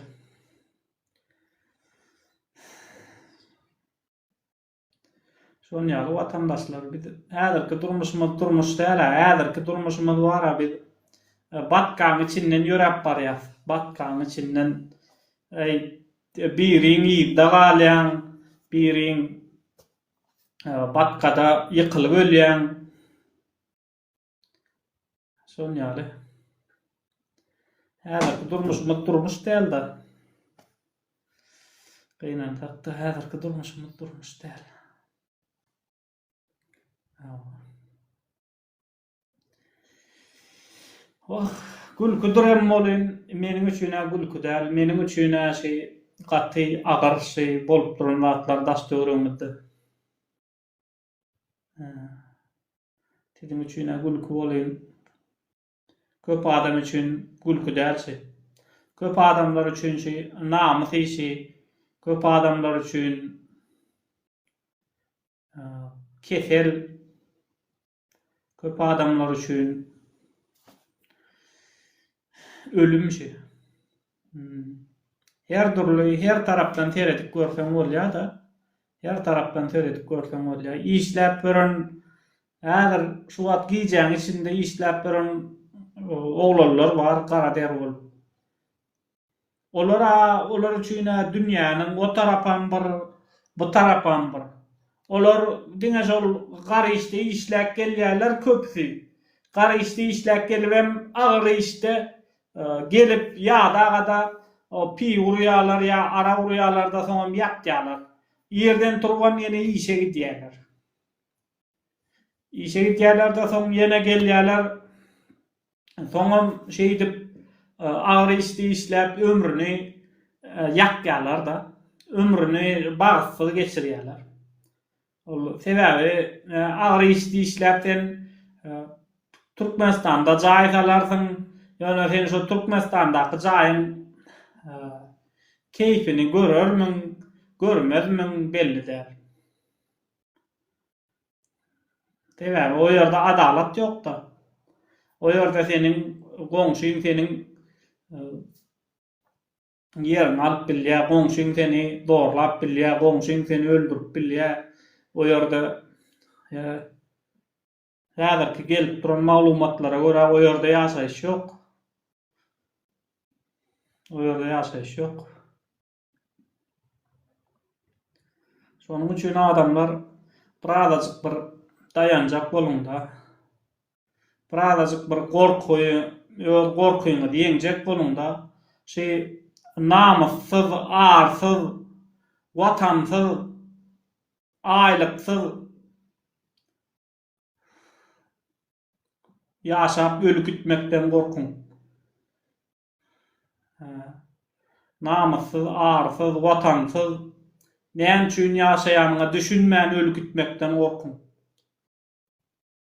Şoň ýaly watandaşlar biz häzirki durmuşymyz durmuş däl, häzirki durmuşymyz bar, biz e, batgaň içinden ýöräp barýas. Batgaň içinden e, biriň ýyzda galýan, biriň e, batkada ýykylyp ölýän. Şonuň ýaly. Häzirki durmuşymyz durmuş däldi. Gynan takda häzirki durmuşymyz durmuş däl. Oh, gülküdir hem bolyn, meniň üçin gülki däl, meniň üçin şi gaty agyr şi bolup duran zatlar daş-töweregimizde. Siziň üçin-ä gülki bolyn. Köp adam üçin gülki däl şi. Köp adamlar üçin şi namys işi, köp adamlar üçin kesel, köp adamlar üçin ölüm şi. Her dürli her tarapdan seredip görseň bolýada. Her tarapdan seredip görseň bolýa. Işläp gören häzir şu wagt gijäň içinde işläp gören oglanlar bar gara der bolup. Olara olar üçin dünýäniň o tarapam bir bu tarapam bir. Olar diňe şol gara işde işläp gelýärler köpüsi. Gara işde işläp gelibem agyr işde Gelip, ýadagada piý urýarlar ýa arak urýarlar-da, soňam ýatýarlar. Irden turubam ýene işe gidýärler. Işe gidýärler-de, soň ýene gelýärler. Soňam şeýdip agyr işde işläp ömrüni ýakýarlar-da. Ömrüni bagtsyz geçirýärler. Ol sebäbi agyr iş işläp sen Türkmenistanda jaý salarsyň, ýöne sen şo Türkmenistandaky jaýyň keýpini görermiň, görmezmiň belli däl. Sebäbi o ýerde adalat ýok-da. O ýerde seniň goňşyň seniň Ýeriňi alyp bilýär, goňşyň seni zorlap bilýär, goňşyň seni öldürip bilýär. O ýerde häzirki gelip duran maglumatlara görä o ýerde ýaşaýyş ýok. O ýerde ýaşaýyş ýok. Şonuň üçin adamlar birazajyk bir daýanjak boluň-da. Birazajyk bir gorky, öz gorkyňyzy ýeňjek boluň-da, şu namyssyz, arsyz, watansyz, aýlyksyz ýaşap öli gitmekden gorkuň. Namyssyz, arsyz, watansyz, näme üçin ýaşaýanyňa düşünmän öli gitmekden gorkuň.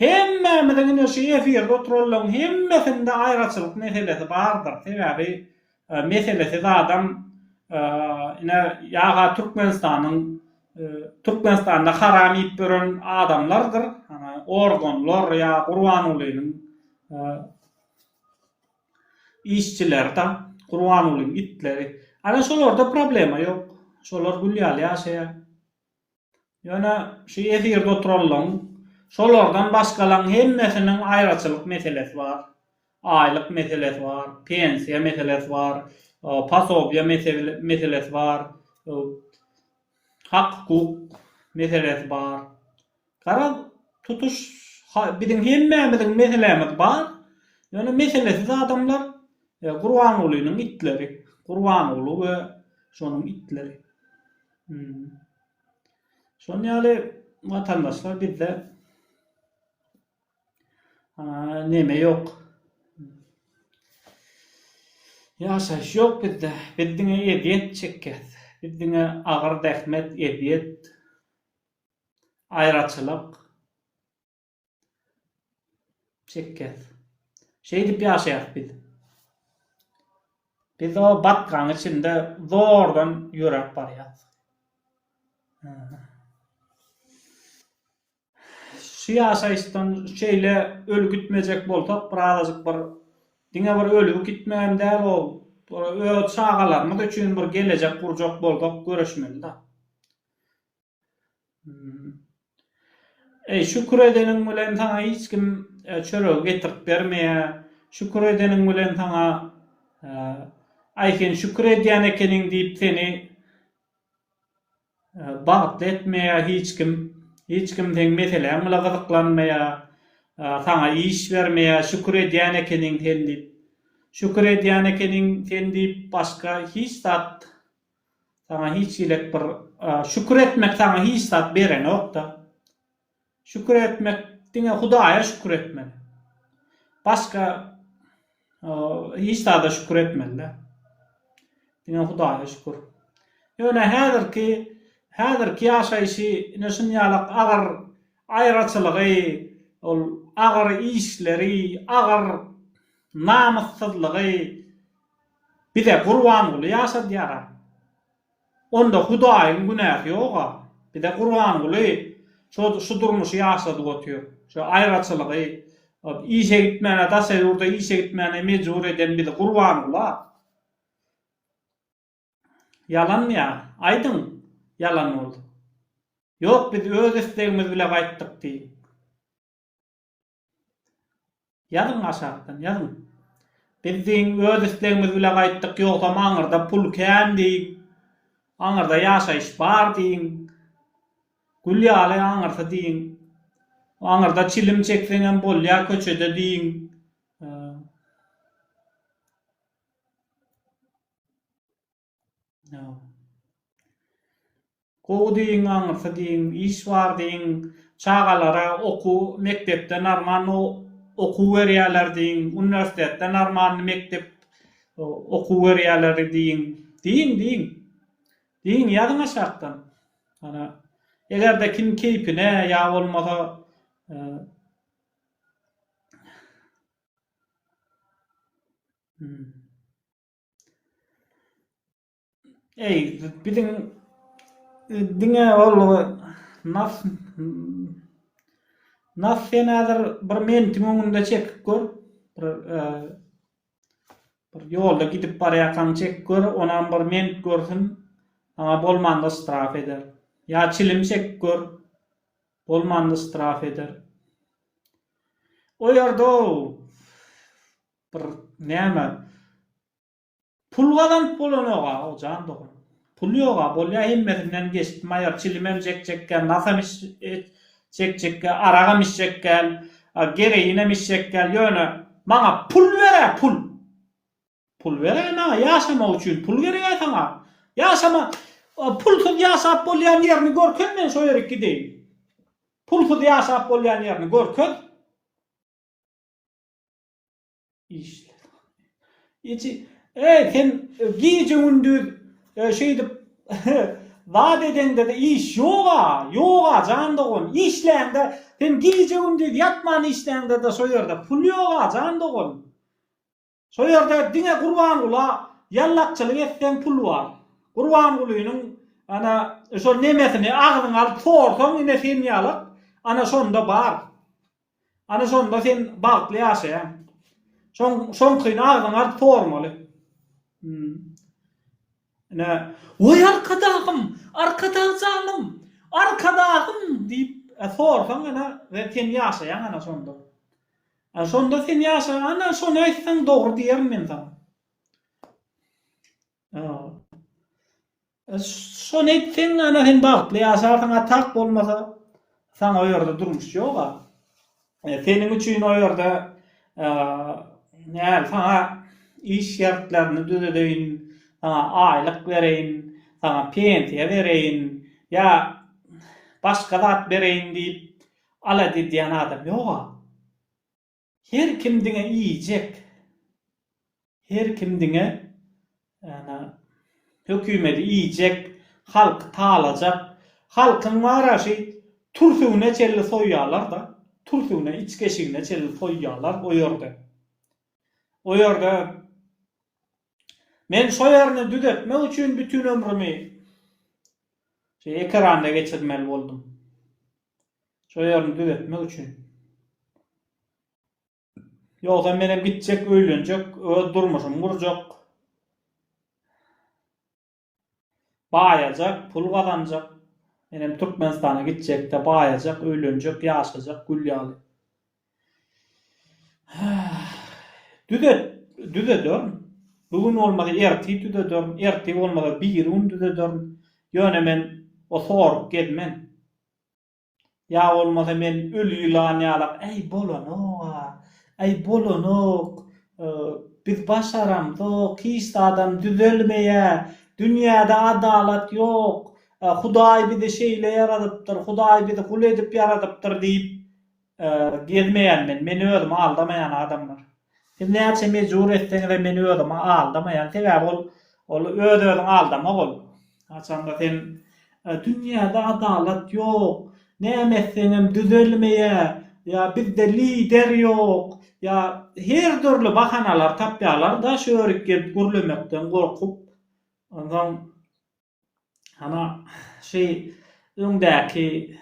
Hemmämiziň ine şu efirde oturanlaň hemmesinde aýraçylyk meselesi bardyr sebäbi meselesi zadam ine ýaga türkmenistanyň türkmenistanda haram iýip ýören adamlardyr organlar ýa gurbangulynyň işçileri da gurbangulyň itleri ana şolarda problema ýok şolar gül ýaly ýaşaýar. Ýöne şu efirde oturanlaň, şolardan başgalaň hemmesiniň aýraçylyk meselesi bar. Aýlyk meselesi bar, pensiýa meselesi bar, pasobiýa meselesi bar, hak-hukuk meselesi bar. Garaz, tutuş biziň hemmämiziň meselämiz bar. Ýöne meselesiz adamlar Gurbangulynyň itleri, Gurbanguly we şonuň itleri. Şonuň ýaly watandaşlar bizde neme ýok. Ýaşaýyş ýok bizde. Biz diňe ezýet çekýäs. Biz diňe agyr zähmet, ezýet, aýraçylyk. Çekýäs. Şeýdip ýaşaýas biz. Biz o batgaň içinde zordan ýöräp barýas. Şu ýaşaýyşdan şeýle öl gitmejek bolsak, birazajyk bir diňe bir ölüp gitmegem däl ol, öz çagalarymyz üçin bir gelejek gurjak bolsak göreşmeli-dä. Eý, şükür edeniň bilen saňa hiç kim çöregi getirip bermeýär. Şükür edeniň bilen saňa, Aý, sen şükür edýän ekeniň diýip seni bagtly etmeýär hiç kim. Hiç kim seň meseläň bile gyzyklanmaýar. Saňa iş bermeýär, şükür edýän ekeniň sen diýip. Şükür edýän ekeniň sen diýip başga hiç zat Saňa hiç hili bir şükür etmek saňa hiç zat berenokda. Şükür etmek diňe Hudaýa şükür etmeli. Başga hiç zada şükür etmeli-de. Diňe Hudaýa şükür. Ýöne häzirki häzirki ýaşaýşy ine şunýalak agyr aýraçylygy, ol agyr işleri, agyr namyssyzlygy, Bize Gurbanguly ýaşadýara. Onda Hudaýyň günäsi ýoga. Bize Gurbanguly şo şu durmuşy ýaşadyp otyr. Şo aýraçylygy, işe gitmäne daşa ýurda işe gitmäne mejbur eden bizi Gurbangula. Ýalanmy ýa? Aýdyň ýalan bolsa. Ýok biz öz islegimiz bile gaýtdyk diýiň. Ýazyň aşakdan, ýazyň. Biz deň öz islegimiz bile gaýtdyk, ýogsam aňyrda pul kän diýip, aňyrda ýaşaýyş bar diýiň, gül ýaly aňyrsy diýiň, aňyrda çilim çekseňem bolýar köçede diýiň. Gowy diýiň aňyrsy diýiň iş bar diýiň çagalara okuw mekdepde normal okuw berýäler diýiň uniwersitetde normalny mekdep okuw berýäler diýiň diýiň diýiň diýiň ýazyň aşakdan hana egerde kim keýpine ýa bolmasa Eý, biziň diňe ol nas nas sen häzir bir mentiň öňünde çekip gör, bir bir ýolda gidip barýarkaň çek gör, onam bir ment görsün, saňa bolmanda ştraf eder. Ýa çilim çek gör, bolmanda ştraf eder. O ýerde-ow, Bir näme Pul gazanyp bolanok-a, jan dogan. Pul ýog-a, bolýa hemmesinden geçdi, maýor, çilimem çekjekkä, nasam iç iç çekjekkä, aragam içjekkä, a gereýinem içjekkä, ýöne maňa pul ber-ä, pul! Pul ber-ä maňa, ýaşamak üçin pul gerek-ä saňa. Ýaşama, a pulsuz ýaşap bolýan ýerini görkez men şo ýerik gideýin. Pulsuz ýaşap bolýan ýerini görkez. Ýeçi, eý, sen gije-gündiz e, şeýdip zat edeňde-de iş ýog-a, ýog-a, jan dogan. Işläňde, sen gije-gündiz ýatman işläňde-de şo ýerde pul ýog-a, jan dogan. Şo ýerde diňe Gurbangula ýallakçylyk etseň pul bar. Gurbangulynyň ana şo nemesini agzyňa alyp sorsaň ine sen ýalak, ana şonda bar. Ana şonda sen bagtly ýaşaýaň. Şoň şoňkyny agzyň aryp sormaly. Hum. Ine. Woý arkadagym, arkadag janym, arkadagym diýip sorsaň ana we sen ýaşaýaň ana şonda. Ana şonda sen ýaşaýaň ana şony aýtsaň dogry diýerin men saňa. Ýa. Şony etseň ana sen bagtly ýaşarsyň a tak bolmasa saňa o ýerde durmuş ýok a seniň üçin o ýerde näl saňa iş şertlerini düzedeýin saňa aýlyk bereýin saňa pensiýa bereýin ýa başga zat bereýin diýip alada edýän adam ýok a. Her kim diňe iýjek. Her kim diňe ýa-da hökümedi iýjek, halky talajak. Halkyň bar-a şi türsügine çenli soýýarlar-da. Türsügine, içgeşigine çenli soýýarlar o ýerde. O ýerde Men şo ýerini düzetmek üçin bütin ömrümi şi ekeranda geçirmeli boldum. Şo ýerini düzetmek üçin. Ýogsam menem gitjek, öýlenjek, öz durmuşymy gurjak. Baýajak, pul gazanjak. Menem Türkmenistana gitjek-de, baýajak, öýlenjek, ýaşajak gül ýaly. Düzet, düzederin. Bu gün bolmasa ertir düzederin, ertir bolmasa biri gün düzederin. Ýöne men o sorup gezmen. Ýa bolmasa men öli ýylan ýalak, Äý, bolanok-a, äý, bolanok, biz başaramzok, hiç zadam düzelmeýär, dünýäde adalat ýok, Hudaý bizi şeýle ýaradypdyr, Hudaý bizi gul edip ýaradypdyr diýip, Gezmeýän men, meni özümi aldamaýan adamlar. Siz näçe mejbur etseňizem meni özümi aldamaýan, sebäbi ol, ol öz-özüňi aldamak ol. Haçanda sen, Dünýäde adalat ýok, näme etseňem düzelmeýär, ýa bizde lider ýok, ýa her dürli bahanalar tapýarlar-da şu ýörük gelip gürlemekden gorkup. Onsoň, hana, şeý öňdäki.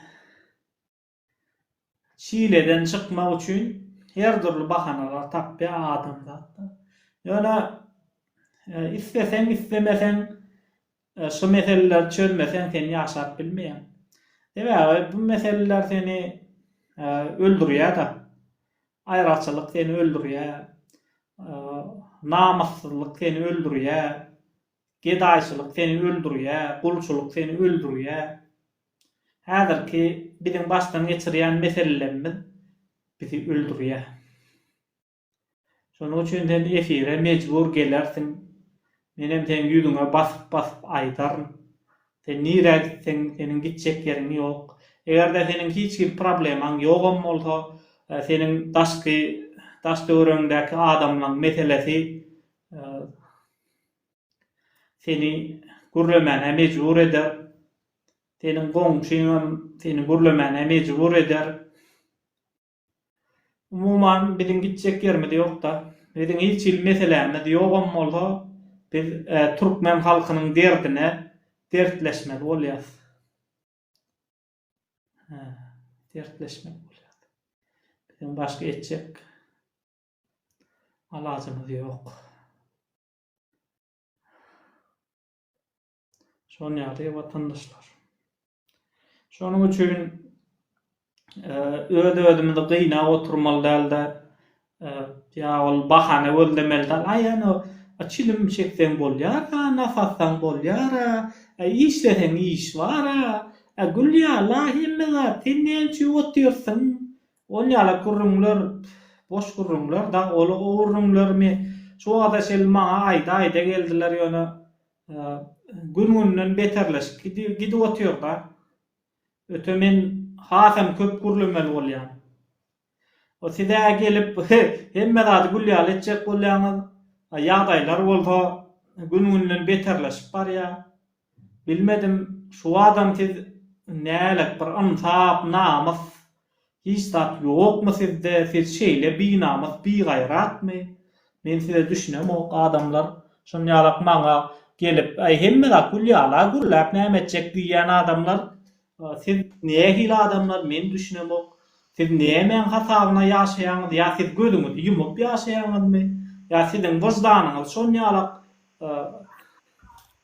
Çileden çykmak üçin her dürli bahanalar tapýar adamzatlar. Ýöne isleseň islemeseň şu meseleleri çözmeseň sen ýaşap bilmeýäň. Sebäbi bu meseleler seni öldürýär-de. Aýraçylyk seni öldürýär. Namyssyzlyk seni öldürýär. Gedaýçylyk seni öldürýär. Gulçulyk seni öldürýär. Häzirki biziň başdan geçirýän meselelerimiz bizi öldürýär. Şonuň üçin sen efire mejbur gelersiň. Menem seň ýüzüňe basyp-basyp aýdaryn. Sen nirä gitseň, seniň gitjek ýeriň ýok. Eger-de seniň hiç hili problemaň ýogam bolsa, seniň daşky daş-töweregiňdäki adamlaň meselesi seni gürlemäne mejbur eder. Seniň goňşyňam seni gürlemäne mejbur eder. Umuman, biziň gitjek ýerimiz ýok-da. Biziň hiç hili meselämiz ýogam bolsa, biz türkmen halkynyň derdine dertleşmeli bolýarys. Hä, dertleşmeli bolýarys. Biziň başga etjek alajymyz ýok. Şonuň ýaly watandaşlar. Şonuň üçin e, öz-özümizi gynap oturmaly däl-de, e, ýa ol bahana gözlemeli däl. Aý, ýa açylym çekseň bolýar-a, nasatsaň bolýar-a, e, işleseň iş bar-a, e, gülýär-la hemme zat, sen näme üçin otyrsyň? Ol ýala gürrüňler, boş gürrüňler, dag ola o gürrüňlerimi şu wagta çenli maňa aýda-aýda geldiler, ýöne gün-günden beterleşip gidip otyr-da. Öte men hasam köp gürlemeli bolýan. O siz-ä gelip hemme zady gül ýaly etjek bolýaňyz, a ýagdaýlar bolsa gün-günden beterleşip barýar. Bilmedim, şu adam siz nälet bir ynsap, namys hiç zat ýokmy sizde, siz şeýle binamys, bigaýratmy? Men size düşünemok, adamlar şon ýalak maňa gelip, aý hemme zat gül ýala, gürläp näme etjek diýýän adamlar, siz nähili adamlar men düşünemok, siz nämäň hasabyna ýaşaýaňyz, ýa siz gözüňizi ýumup ýaşaýaňyzmy, ýa siziň wyždanyňyz şon ýalak,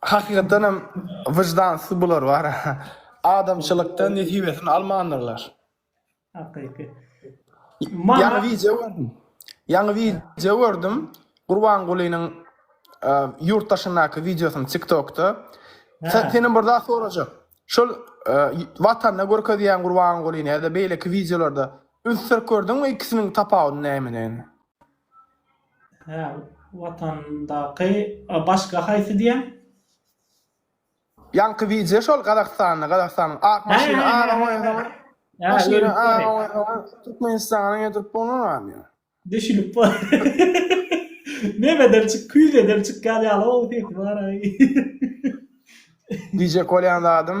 Hakykatdanam wyždansyz bular bar. Adamçylykdan nesibesini almandyrlar. Hakyky. Ýaňy wideo gördüm. Ýaňy wideo gördüm. Gurbangulynyň ýurt daşyndaky wideosyny tiktokda. Senden bir zat sorajak. Şol watanda görkezýän Gurbangulyny ýa-da beýleki wideolarda üns berip gördüňmi ikisiniň tapawudy nämedigini? Hä, watandaky başga haýsy diýen? Ýaňky wideo şol Gazagystanda, Gazagystanyň ak maşyny aga goýasoň, maşyny aga goýasoň, Türkmenistana getirip bolmaz ýa. Düşünip bol. Nebeden çyk, küýzeden çykýan ýaly ow sesi bar-aý. Diýjek bolýan zadym,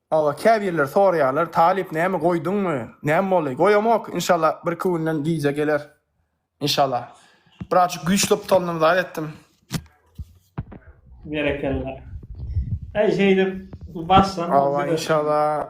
Aga käbirler soraýarlar talyp näme goýduňmy näme boldy goýamok inşalla birki günden gijä geler inşalla birazjyk güýçlop tolunam zat etdim. Berekella. Aý şeýdip bassaň. Hawa inşalla.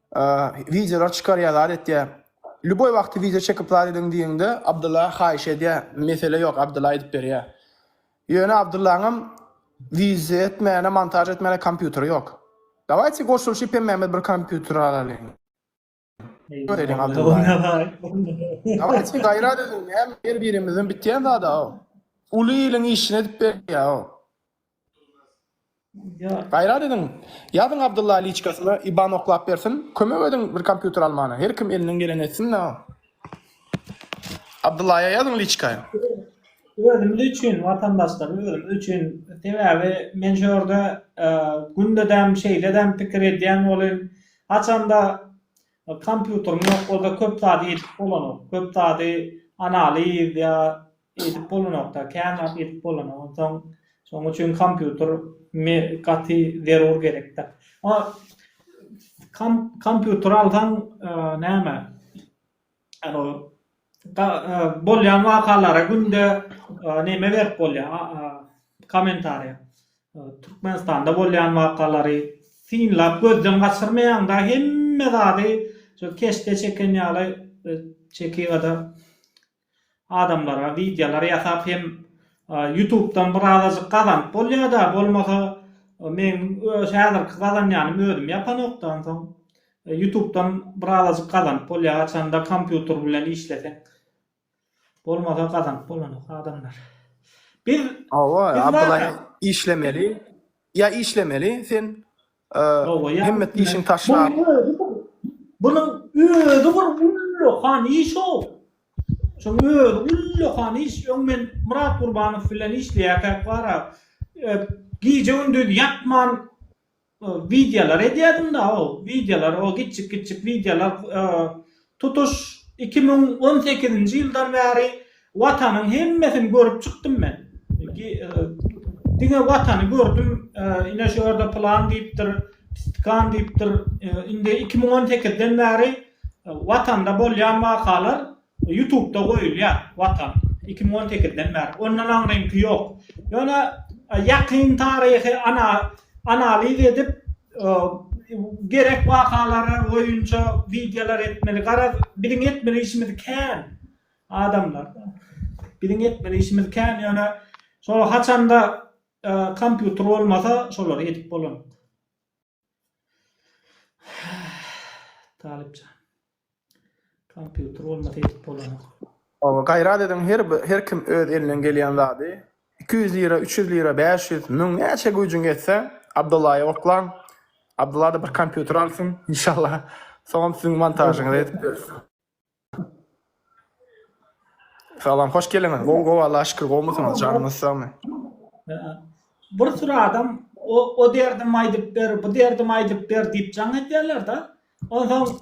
Wideolar çykarýar zat etýär. Lýuboý wagty wideo çekip zat ediň diýeňde Abdylla haýyş edýär. Mesele ýok Abdylla edip berýär. Ýöne Abdyllaňam wideo etmäne montaž etmäne kompýuteri ýok. Dawaýte goşulyşyp hemmämiz bir kompýuter alalyň. Göreýliň Abdyllany. Dawaýte gaýrat ediň näme her birimizden bitýän zada o. Uly iliň işini edip berýär o. Gaýrat ediň, ýazyň Abdylla liçkasyna iban oklap bersin, kömek ediň bir kompýuter almana, her kim elinden geleni etsin-de. Abdyllaýa ýazyň liçka. Özümiz üçin watandaşlar özümiz üçin sebäbi men şu ýerde gündedem şeýledem pikir edýän welin haçanda kompýuterim ýok bolsa köp zady ýetip bolanok köp zady analiz ýa Edip bolanokda, kän zat edip bolanok. Onsoň şonuň üçin kompýuter gaty zerur gerekde. A kompýuter alsaň näme? Ýagny bolýan wakalara günde neme berip bolýar? Kommentariýa. Türkmenistanda bolýan wakalary synlap gözden gaçyrmaýaňda hemme zady şo keşde çeken ýaly çekigada Adamlara wideolar ýasap hem ýutubdan bir azajyk gazanyp bolýada bolmasa meň häzirki gazanýanym özüm ýapanokdan soň ýutubdan bir azajyk gazanyp bolýa haçanda kompýuter bilen işleseň bolmasa gazanyp bolanok adamlar biz Hawa Abdylla işlemeli ýa işlemeli sen Hemmet işini taşlap. Bunuň özi bir, bunuň özi bir ullakan iş-ow. Şunuň özi ullakan iş. Öň men Myrat Gurbanow bilen işleýärkäk bar-a, gije-gündiz ýatman wideolar edýärdim-de, o wideolar, o gitjik-gitjik wideolar Tutuş iki müň on sekizinji ýyldan bäri Watanyň hemmesini görüp çykdym men. Diňe Watany gördüm, ine şu ýerde pylan diýipdir, tikan diýipdir. Indi iki müň on sekizden bäri Watanda bolýan wakalar ýutubda goýulýar, Watan, iki müň on sekizden bäri. Ondan aňryňky ýok. Ýöne ýakyn taryhy analiz edip, Gerek wakalary boýunça wideolar etmeli. Garaz biziň etmeli işimiz kän adamlar. Biziň etmeli işimiz kän ýöne şol haçanda kompýuter bolmasa şolary edip bolanok. Talypjan. Kompýuter bolmasa edip bolanok. Gaýrat ediň her her kim öz elinden gelýän zady iki ýüz lira üç ýüz lira bäş ýüz müň näçe güýjüň ýetse Abdyllaýa oklaň Abdyllada bir kompýuter alsyn inşallah soňam siziň montažyňyzy edip beris. Salam hoş geliňiz gowy gowy Allaha şükür gowmysyňyz janyňyz sagmy. Bir sürü adam o o derdimi aýdyp ber bu derdimi aýdyp ber diýip jaň edýärler da Onsoň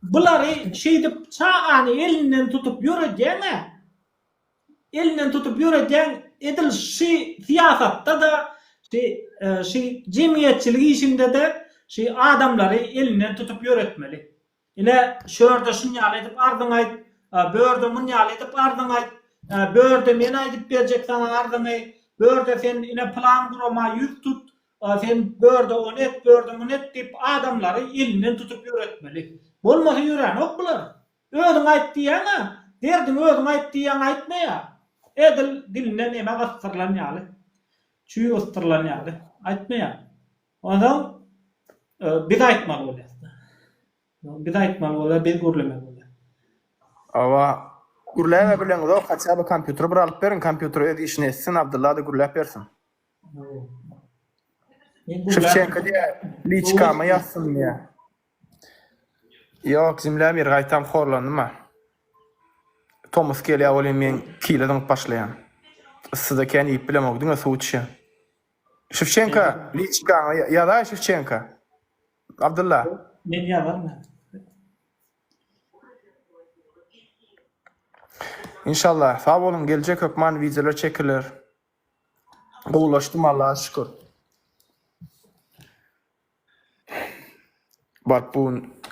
bulary şeýdip çagany elinden tutup ýöredýäň-ä. Elinden tutup ýöredýäň, edil şy syýasatda-da, şy şy jemgyýetçilik işinde-de şy adamlary elinden tutup ýöretmeli. Ine, şörde şun ýaly edip arzyňy aýt, börde mun ýaly edip arzyňy aýt, börde men aýdyp berjek saňa arzyňy, börde sen ine pylan gurama ýüz tut, sen börde ony et, börde muny et diýip adamlary elinden tutup ýöretmeli. Bolmasa ýöränok bular. Özüň aýt diýýäň-ä, derdiňi özüň aýt diýýäň aýtmaýar. Edil dilinden emek yssyrylan ýaly, çüý yssyrylan ýaly aýtmaýar. Onsoň biz aýtmaly bolýar. Biz aýtmaly bolýar, biz gürlemeli bolýar. Hawa, gürläbe bileňizok, haçan bir kompýuteri bir alyp beriň, kompýuter öz işini etsin, Abdylla-da gürläp bersin. Şewçenko diýýär, liçkama ýazsyn diýýär. Ýok, jümläp ýeri gaýtam horlandym-a. Tomus gelýär welin men kile zyňyp başlaýan. Yssyda kän iýip bilemok, diňe suw içýän. Şewçenka liçkaňa ýazaý Şewçenka. Abdylla. Men ýazaryn. Inşallah sag boluň geljek hökman wideolar çekiler. Gowulaşdym Allaha şükür. Baryp bu gün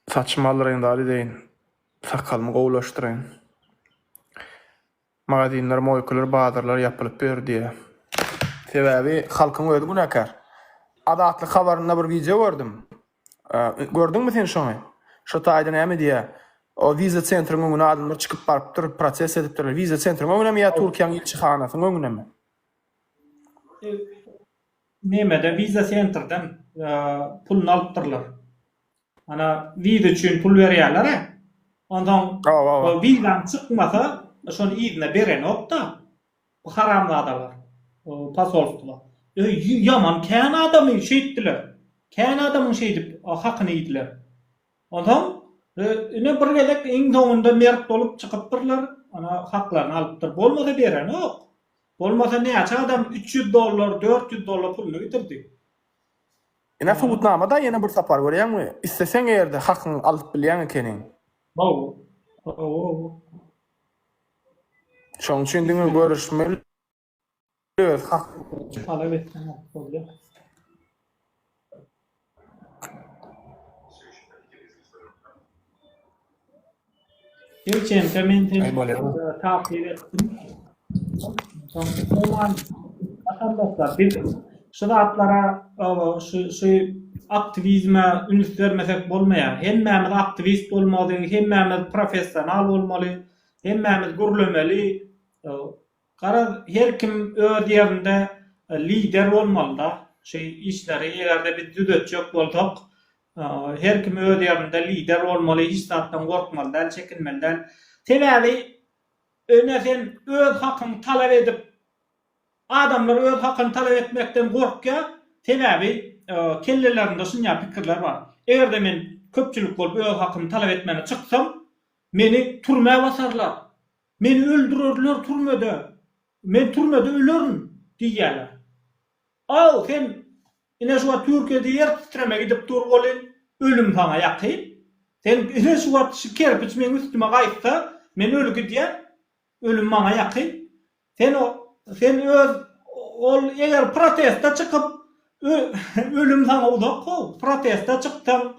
saçymy aldyraýyn zat edeýin. Sakalymy gowulaşdyraýyn. Magazinler, moýkalar, bazarlar ýapylyp ýör diýýär. Sebäbi halkyň özi günäkär. Azatlyk habarynda bir wideo gördüm. Gördüňmi sen şony? Şo taýda näme diýýär? O wiza sentriň öňüne adamlar çykyp barypdyr, protest edipdirler. Wiza sentriň öňünemi ýa Türkiýäň ilçihanasynyň öňünemi? Nämeden wiza sentrden puluny alypdyrlar. Ana wiza üçin pul berýärlere. Onsoň o wizaň çykmasa, şony yzyna berenokda bu haramzadalar posolstwa. Öý ýaman kän adamy şeýtdiler. Kän adamyň şeýdip hakyny iýdiler. Onsoň ine bir gezek iň soňunda mert bolup çykypdyrlar. Ana haklaryny alypdyr. Bolmasa berenok. Bolmasa näçe adam üç ýüz dollar, dört ýüz dollar puluny gidirdi. Ine subutnama-da ýene bir sapar görýäňmi? Isleseň ýerde hakyňy alyp bilýäň ekeniň. Hawa. Hawa-hawa. Şoň üçin diňe görüşmeli öz hakyňy talap etseň bolýar. Ýewçenka men seni takyk etdim. Soň Oman aşamda biz şu zatlara şu şu aktiwizme üns bermesek bolmaýar. Hemmämiz aktiwist bolmaly, hemmämiz professional bolmaly, hemmämiz gürlemeli. Garaz her kim öz ýerinde lider bolmalyda şu işleri egerde biz düzetjek bolsak her kim öz ýerinde lider bolmaly hiç zatdan gorkmaly däl çekinmeli däl sebäbi öne sen öz hakyňy talap edip adamlar öz hakyny talap etmekden gorkýa sebäbi kellelerinde şunýa pikirler bar egerde men köpçülik bolup öz hakymy talap etmäne çyksam meni türmä basarlar Meni öldürerler türmede, men türmede ölerin diýýärler. Aw, sen ine şu wagt Türkiýede ýer titreme gidip dur welin, ölüm saňa ýakyn. Sen ine şu wagt şu kerpiç meň üstüme gaýtsa, men öli gidýän, ölüm maňa ýakyn. Sen o, sen öz ol eger protesta çykyp, ölüm saňa uzak how, protesta çyksaň,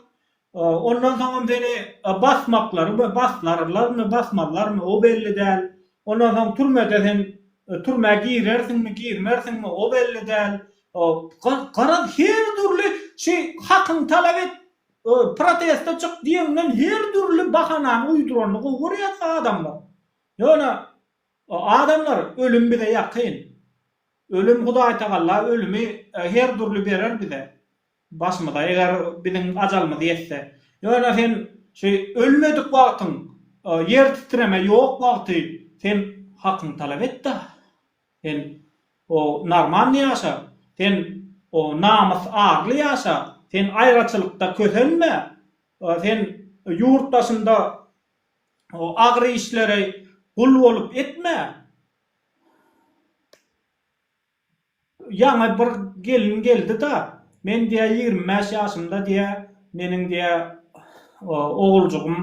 Ondan soňam seni basmaklary we baslarlarmy, basmazlarmy, o belli däl. Ondan soň türmede sen türmä girersiňmi, girmersiňmi, o belli däl. Garaz, her dürli şi hakyňy talap et, proteste çyk diýeňden her dürli bahanany uýduranyny gowy görýärsiň adamlar. Ýöne, adamlar, ölüm bize ýakyn. Ölüm Hudaýtagalla ölümi her dürli berer bize. Başymyza eger biziň ajalymyz ýetse. Ýöne sen şu ölmedik wagtyň, ýer titreme ýok wagty sen hakyňy talap et-de. Sen o normalny ýaşa. Sen o namys arly ýaşa. Sen aýraçylykda kösenme. Sen ýurt daşynda o agyr işlere gul bolup etme. Ýaňy bir gelin geldi-da, men diýä ýigrimi bäş ýaşymda diýä, meniň diýä oguljygym,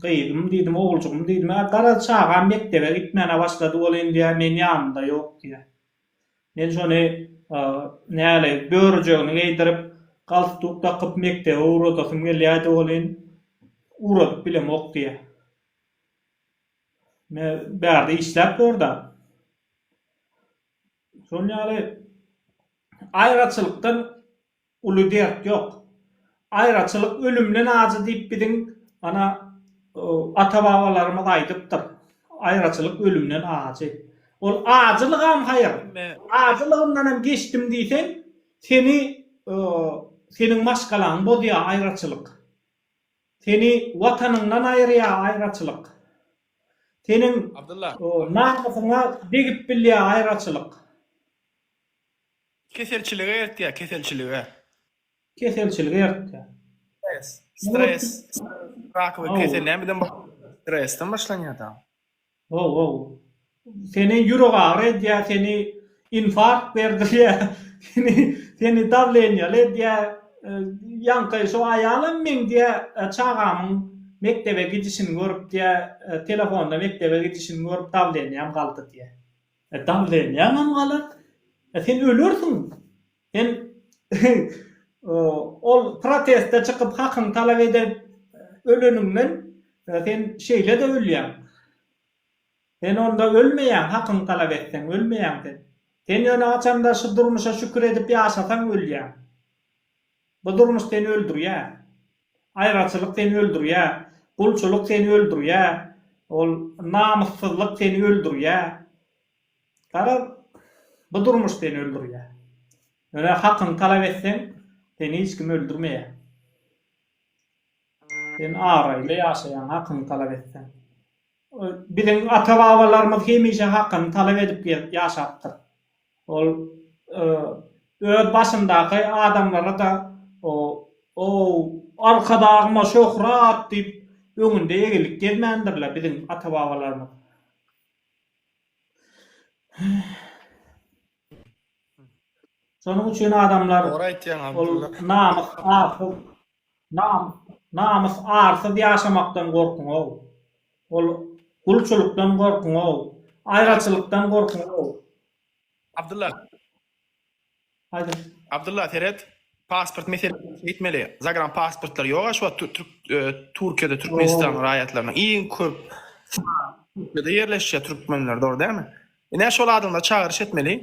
gyzym diýdim, oguljygym diýdim, ä garaz çagam mekdebe gitmäne başlady welin diýä men ýanynda ýok diýä. Men şony näli börüjegini geýdirip, galstuk dakyp mekdebe ugradasym gelýädi welin, ugradyp bilemok diýä. Bärde işläp gör-de. Şol ýaly aýraçylykdan uly dert ýok. Aýraçylyk ölümden ajy diýip biziň ana ata-babalarymyz aýdypdyr. Aýraçylyk ölümden ajy. Ol ajylygam haýyr. Ajylygyndan hem geçdim diýseň, seni seniň maşgalaňy bozýar aýraçylyk. Seni watanyňdan aýyrýa aýraçylyk. Seniň namysyňa degip bilýä aýraçylyk. Keselçilige eltýä, keselçilige. Keselçilige eltýä. Stres, stres, rak we kesel näme bilen başlanýar? Stresden başlanýar dagym. Wow wow. Seni ýürek agyry edýär, seni infarkt berdirýär, seni seni dawleniýaly edýär, ýaňky şo aýalam meň diýä çagamyň mekdebe gidişini görüp diýä telefonda mekdebe gidişini görüp dawlenýam galdy diýä. E dawlenýäňem galar. E sen ölersiň. Hem ol proteste çykyp hakyňy talap edip öleniňden sen şeýle-de ölýäň. Sen onda ölmeýäň hakyňy talap etseň ölmeýäň sen. Sen ýöne haçanda şu durmuşa şükür edip ýaşasaň ölýäň. Bu durmuş seni öldürýär. Aýraçylyk seni öldürýär. Gulçulyk seni öldürýär. Ol namyssyzlyk seni öldürýär. Garaz, bu durmuş seni öldürýär. Ýöne hakyňy talap etseň, seni hiç kim öldürmeýär. Sen abraýly ýaşaýaň, hakyňy talap etseň. Biziň ata-babalarymyz hemişe hakyny talap edip gezip ýaşapdyr. Ol öz başyndaky adamlara-da O-ow, Arkadagyma şöhrat! diýip, öňünde egilip gezmändirler biziň ata-babalarymyz. Şonuň üçin adamlar Dogry aýtýaň Abdylla. Namys arsyz nam namys arsyz ýaşamakdan gorkuňow. Ol gulçulykdan gorkuňow. Aýraçylykdan gorkuňow. Abdylla. Haýdyr. Abdylla seret pasport meselesini çeýtmeli zagran pasportlar ýoga şu wagt Türkiýede Türkmenistan raýatlarynyň iň köp Türkiýede ýerleşýär türkmenler dogry dälmi ine şol adamlary çagyryş etmeli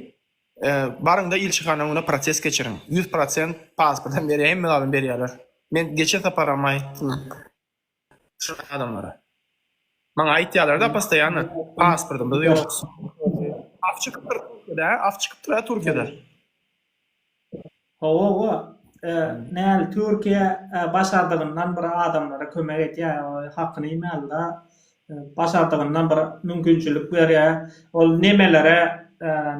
baryňda ilçihana öňüne proses geçiriň ýüz prosent pasport hem berýär hemme zadam berýärler men geçen saparam aýtdym Şunaqa adamlara. Maňa aýtýalarda postoýanno pasportymyz ýok. Af çykypdyr Türkiýede, af çykypdyr-a Türkiýede. Hawa hawa. Näl Türkiýe başardygyndan bir adamlara kömek edýär. Hakyny iýmälida. Başardygyndan bir mümkinçilik berýär. Ol nemelere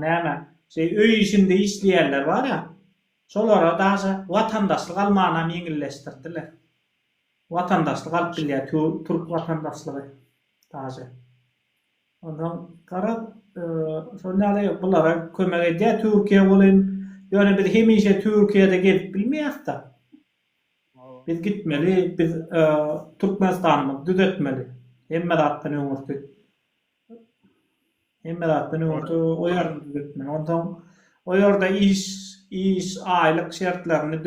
näme şeý öý işinde işleýänler barýa. Şolara daşa watandaşlyk almanam ýeňilleşdirdiler. Watandaşlyk alyp bilýär türk watandaşlygy daže. Onsoň garaz şonda ýaly bulara kömek edýär Türkiýe welin ýöne biz hemişe Türkiýede gezip bilmeýäsda. Biz gitmeli biz Türkmenistanymyzy düzetmeli hemme zatdan öňürti. Hemme zatdan öň oto o ýerde düzetmeli. Onsoň o ýerde iş, iş, aýlyk şertlerini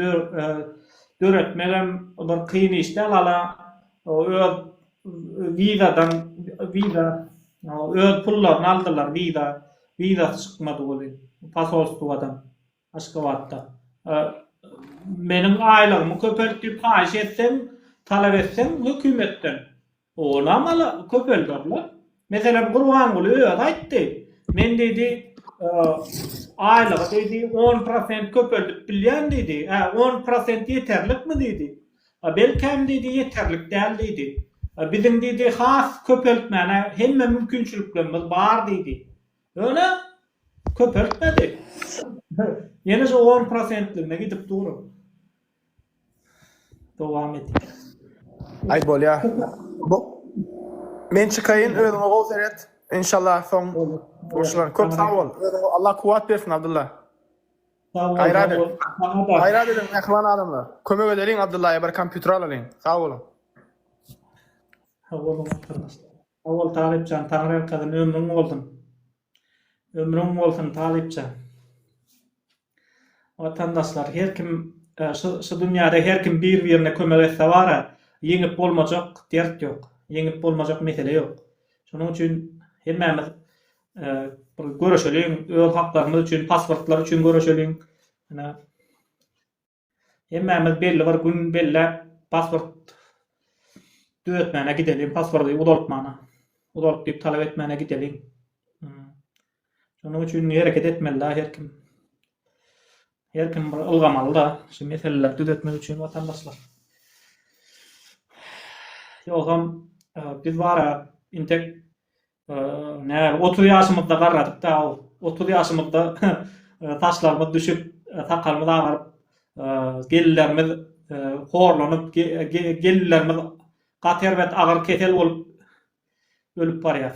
döretmek hem bir kyn iş däl. Hala öz wizadan, wiza, öz pullaryny aldylar, wiza, wizasy çykmady weli, posolstwadan, Aşgabatda. Meniň aýlygymy köpelt diýip haýyş etseň, talap etseň hökümetden, Olam ala köpelderler. Meselem, Gurbanguly özi aýtdy. Men diýdi, aýlygy diýdi, on prosent köpeldip bilýän diýdi. Hä, on prosent ýeterlikmi diýdi. Belkäm diýdi, ýeterlik däl diýdi. Biziň diýdi, has köpeltmäne hemme mümkinçiliklerimiz bar diýdi. Ýöne köpeltmedi. Ýene şu on prosentligine gidip dur. Dowam et. Aý bolýa. Bu Men çykaýyn özüňe gowy seret. Inşallah soň gurşular. Köp sag bol. Özüňe Allah kuwwat bersin Abdylla. Gaýrat et. Gaýrat ediň mähriban adamlar. Kömek edeliň Abdyllaýa bir kompýuter alalyň. Sag boluň. Sag boluň gardaşlar. Sag bol Talypjan Taňry Arkadyn ömrüň bolsun. Ömrüň bolsun Talypjan. Watandaşlar her kim şu dünýäde her kim bir birine kömek etse bara ýeňip bolmajak dert ýok ýeňip bolmajak mesele ýok şonuň üçin hemmämiz bir göreşeliň öz haklarymyz üçin pasportlar üçin göreşeliň ine Hemmämiz belli bir gün belläp pasport düzetmäne gideliň, pasporty uzaltmana, uzalyp diýip talap etmäne gideliň. Şonuň üçin hereket etmeli-dä her kim. Her kim bir ylgamaly-da şu meseleleri düzetmek üçin watandaşlar. Ýogsam e, biz bara intek Näme, 30 ýaşymyzda garradyk-da, otuz ýaşymyzda saçlarymyz düşüp, sakalymyz agaryp, gelinlerimiz horlanyp, gelinlerimiz gaty erbet agyr kesel bolup ölüp barýar.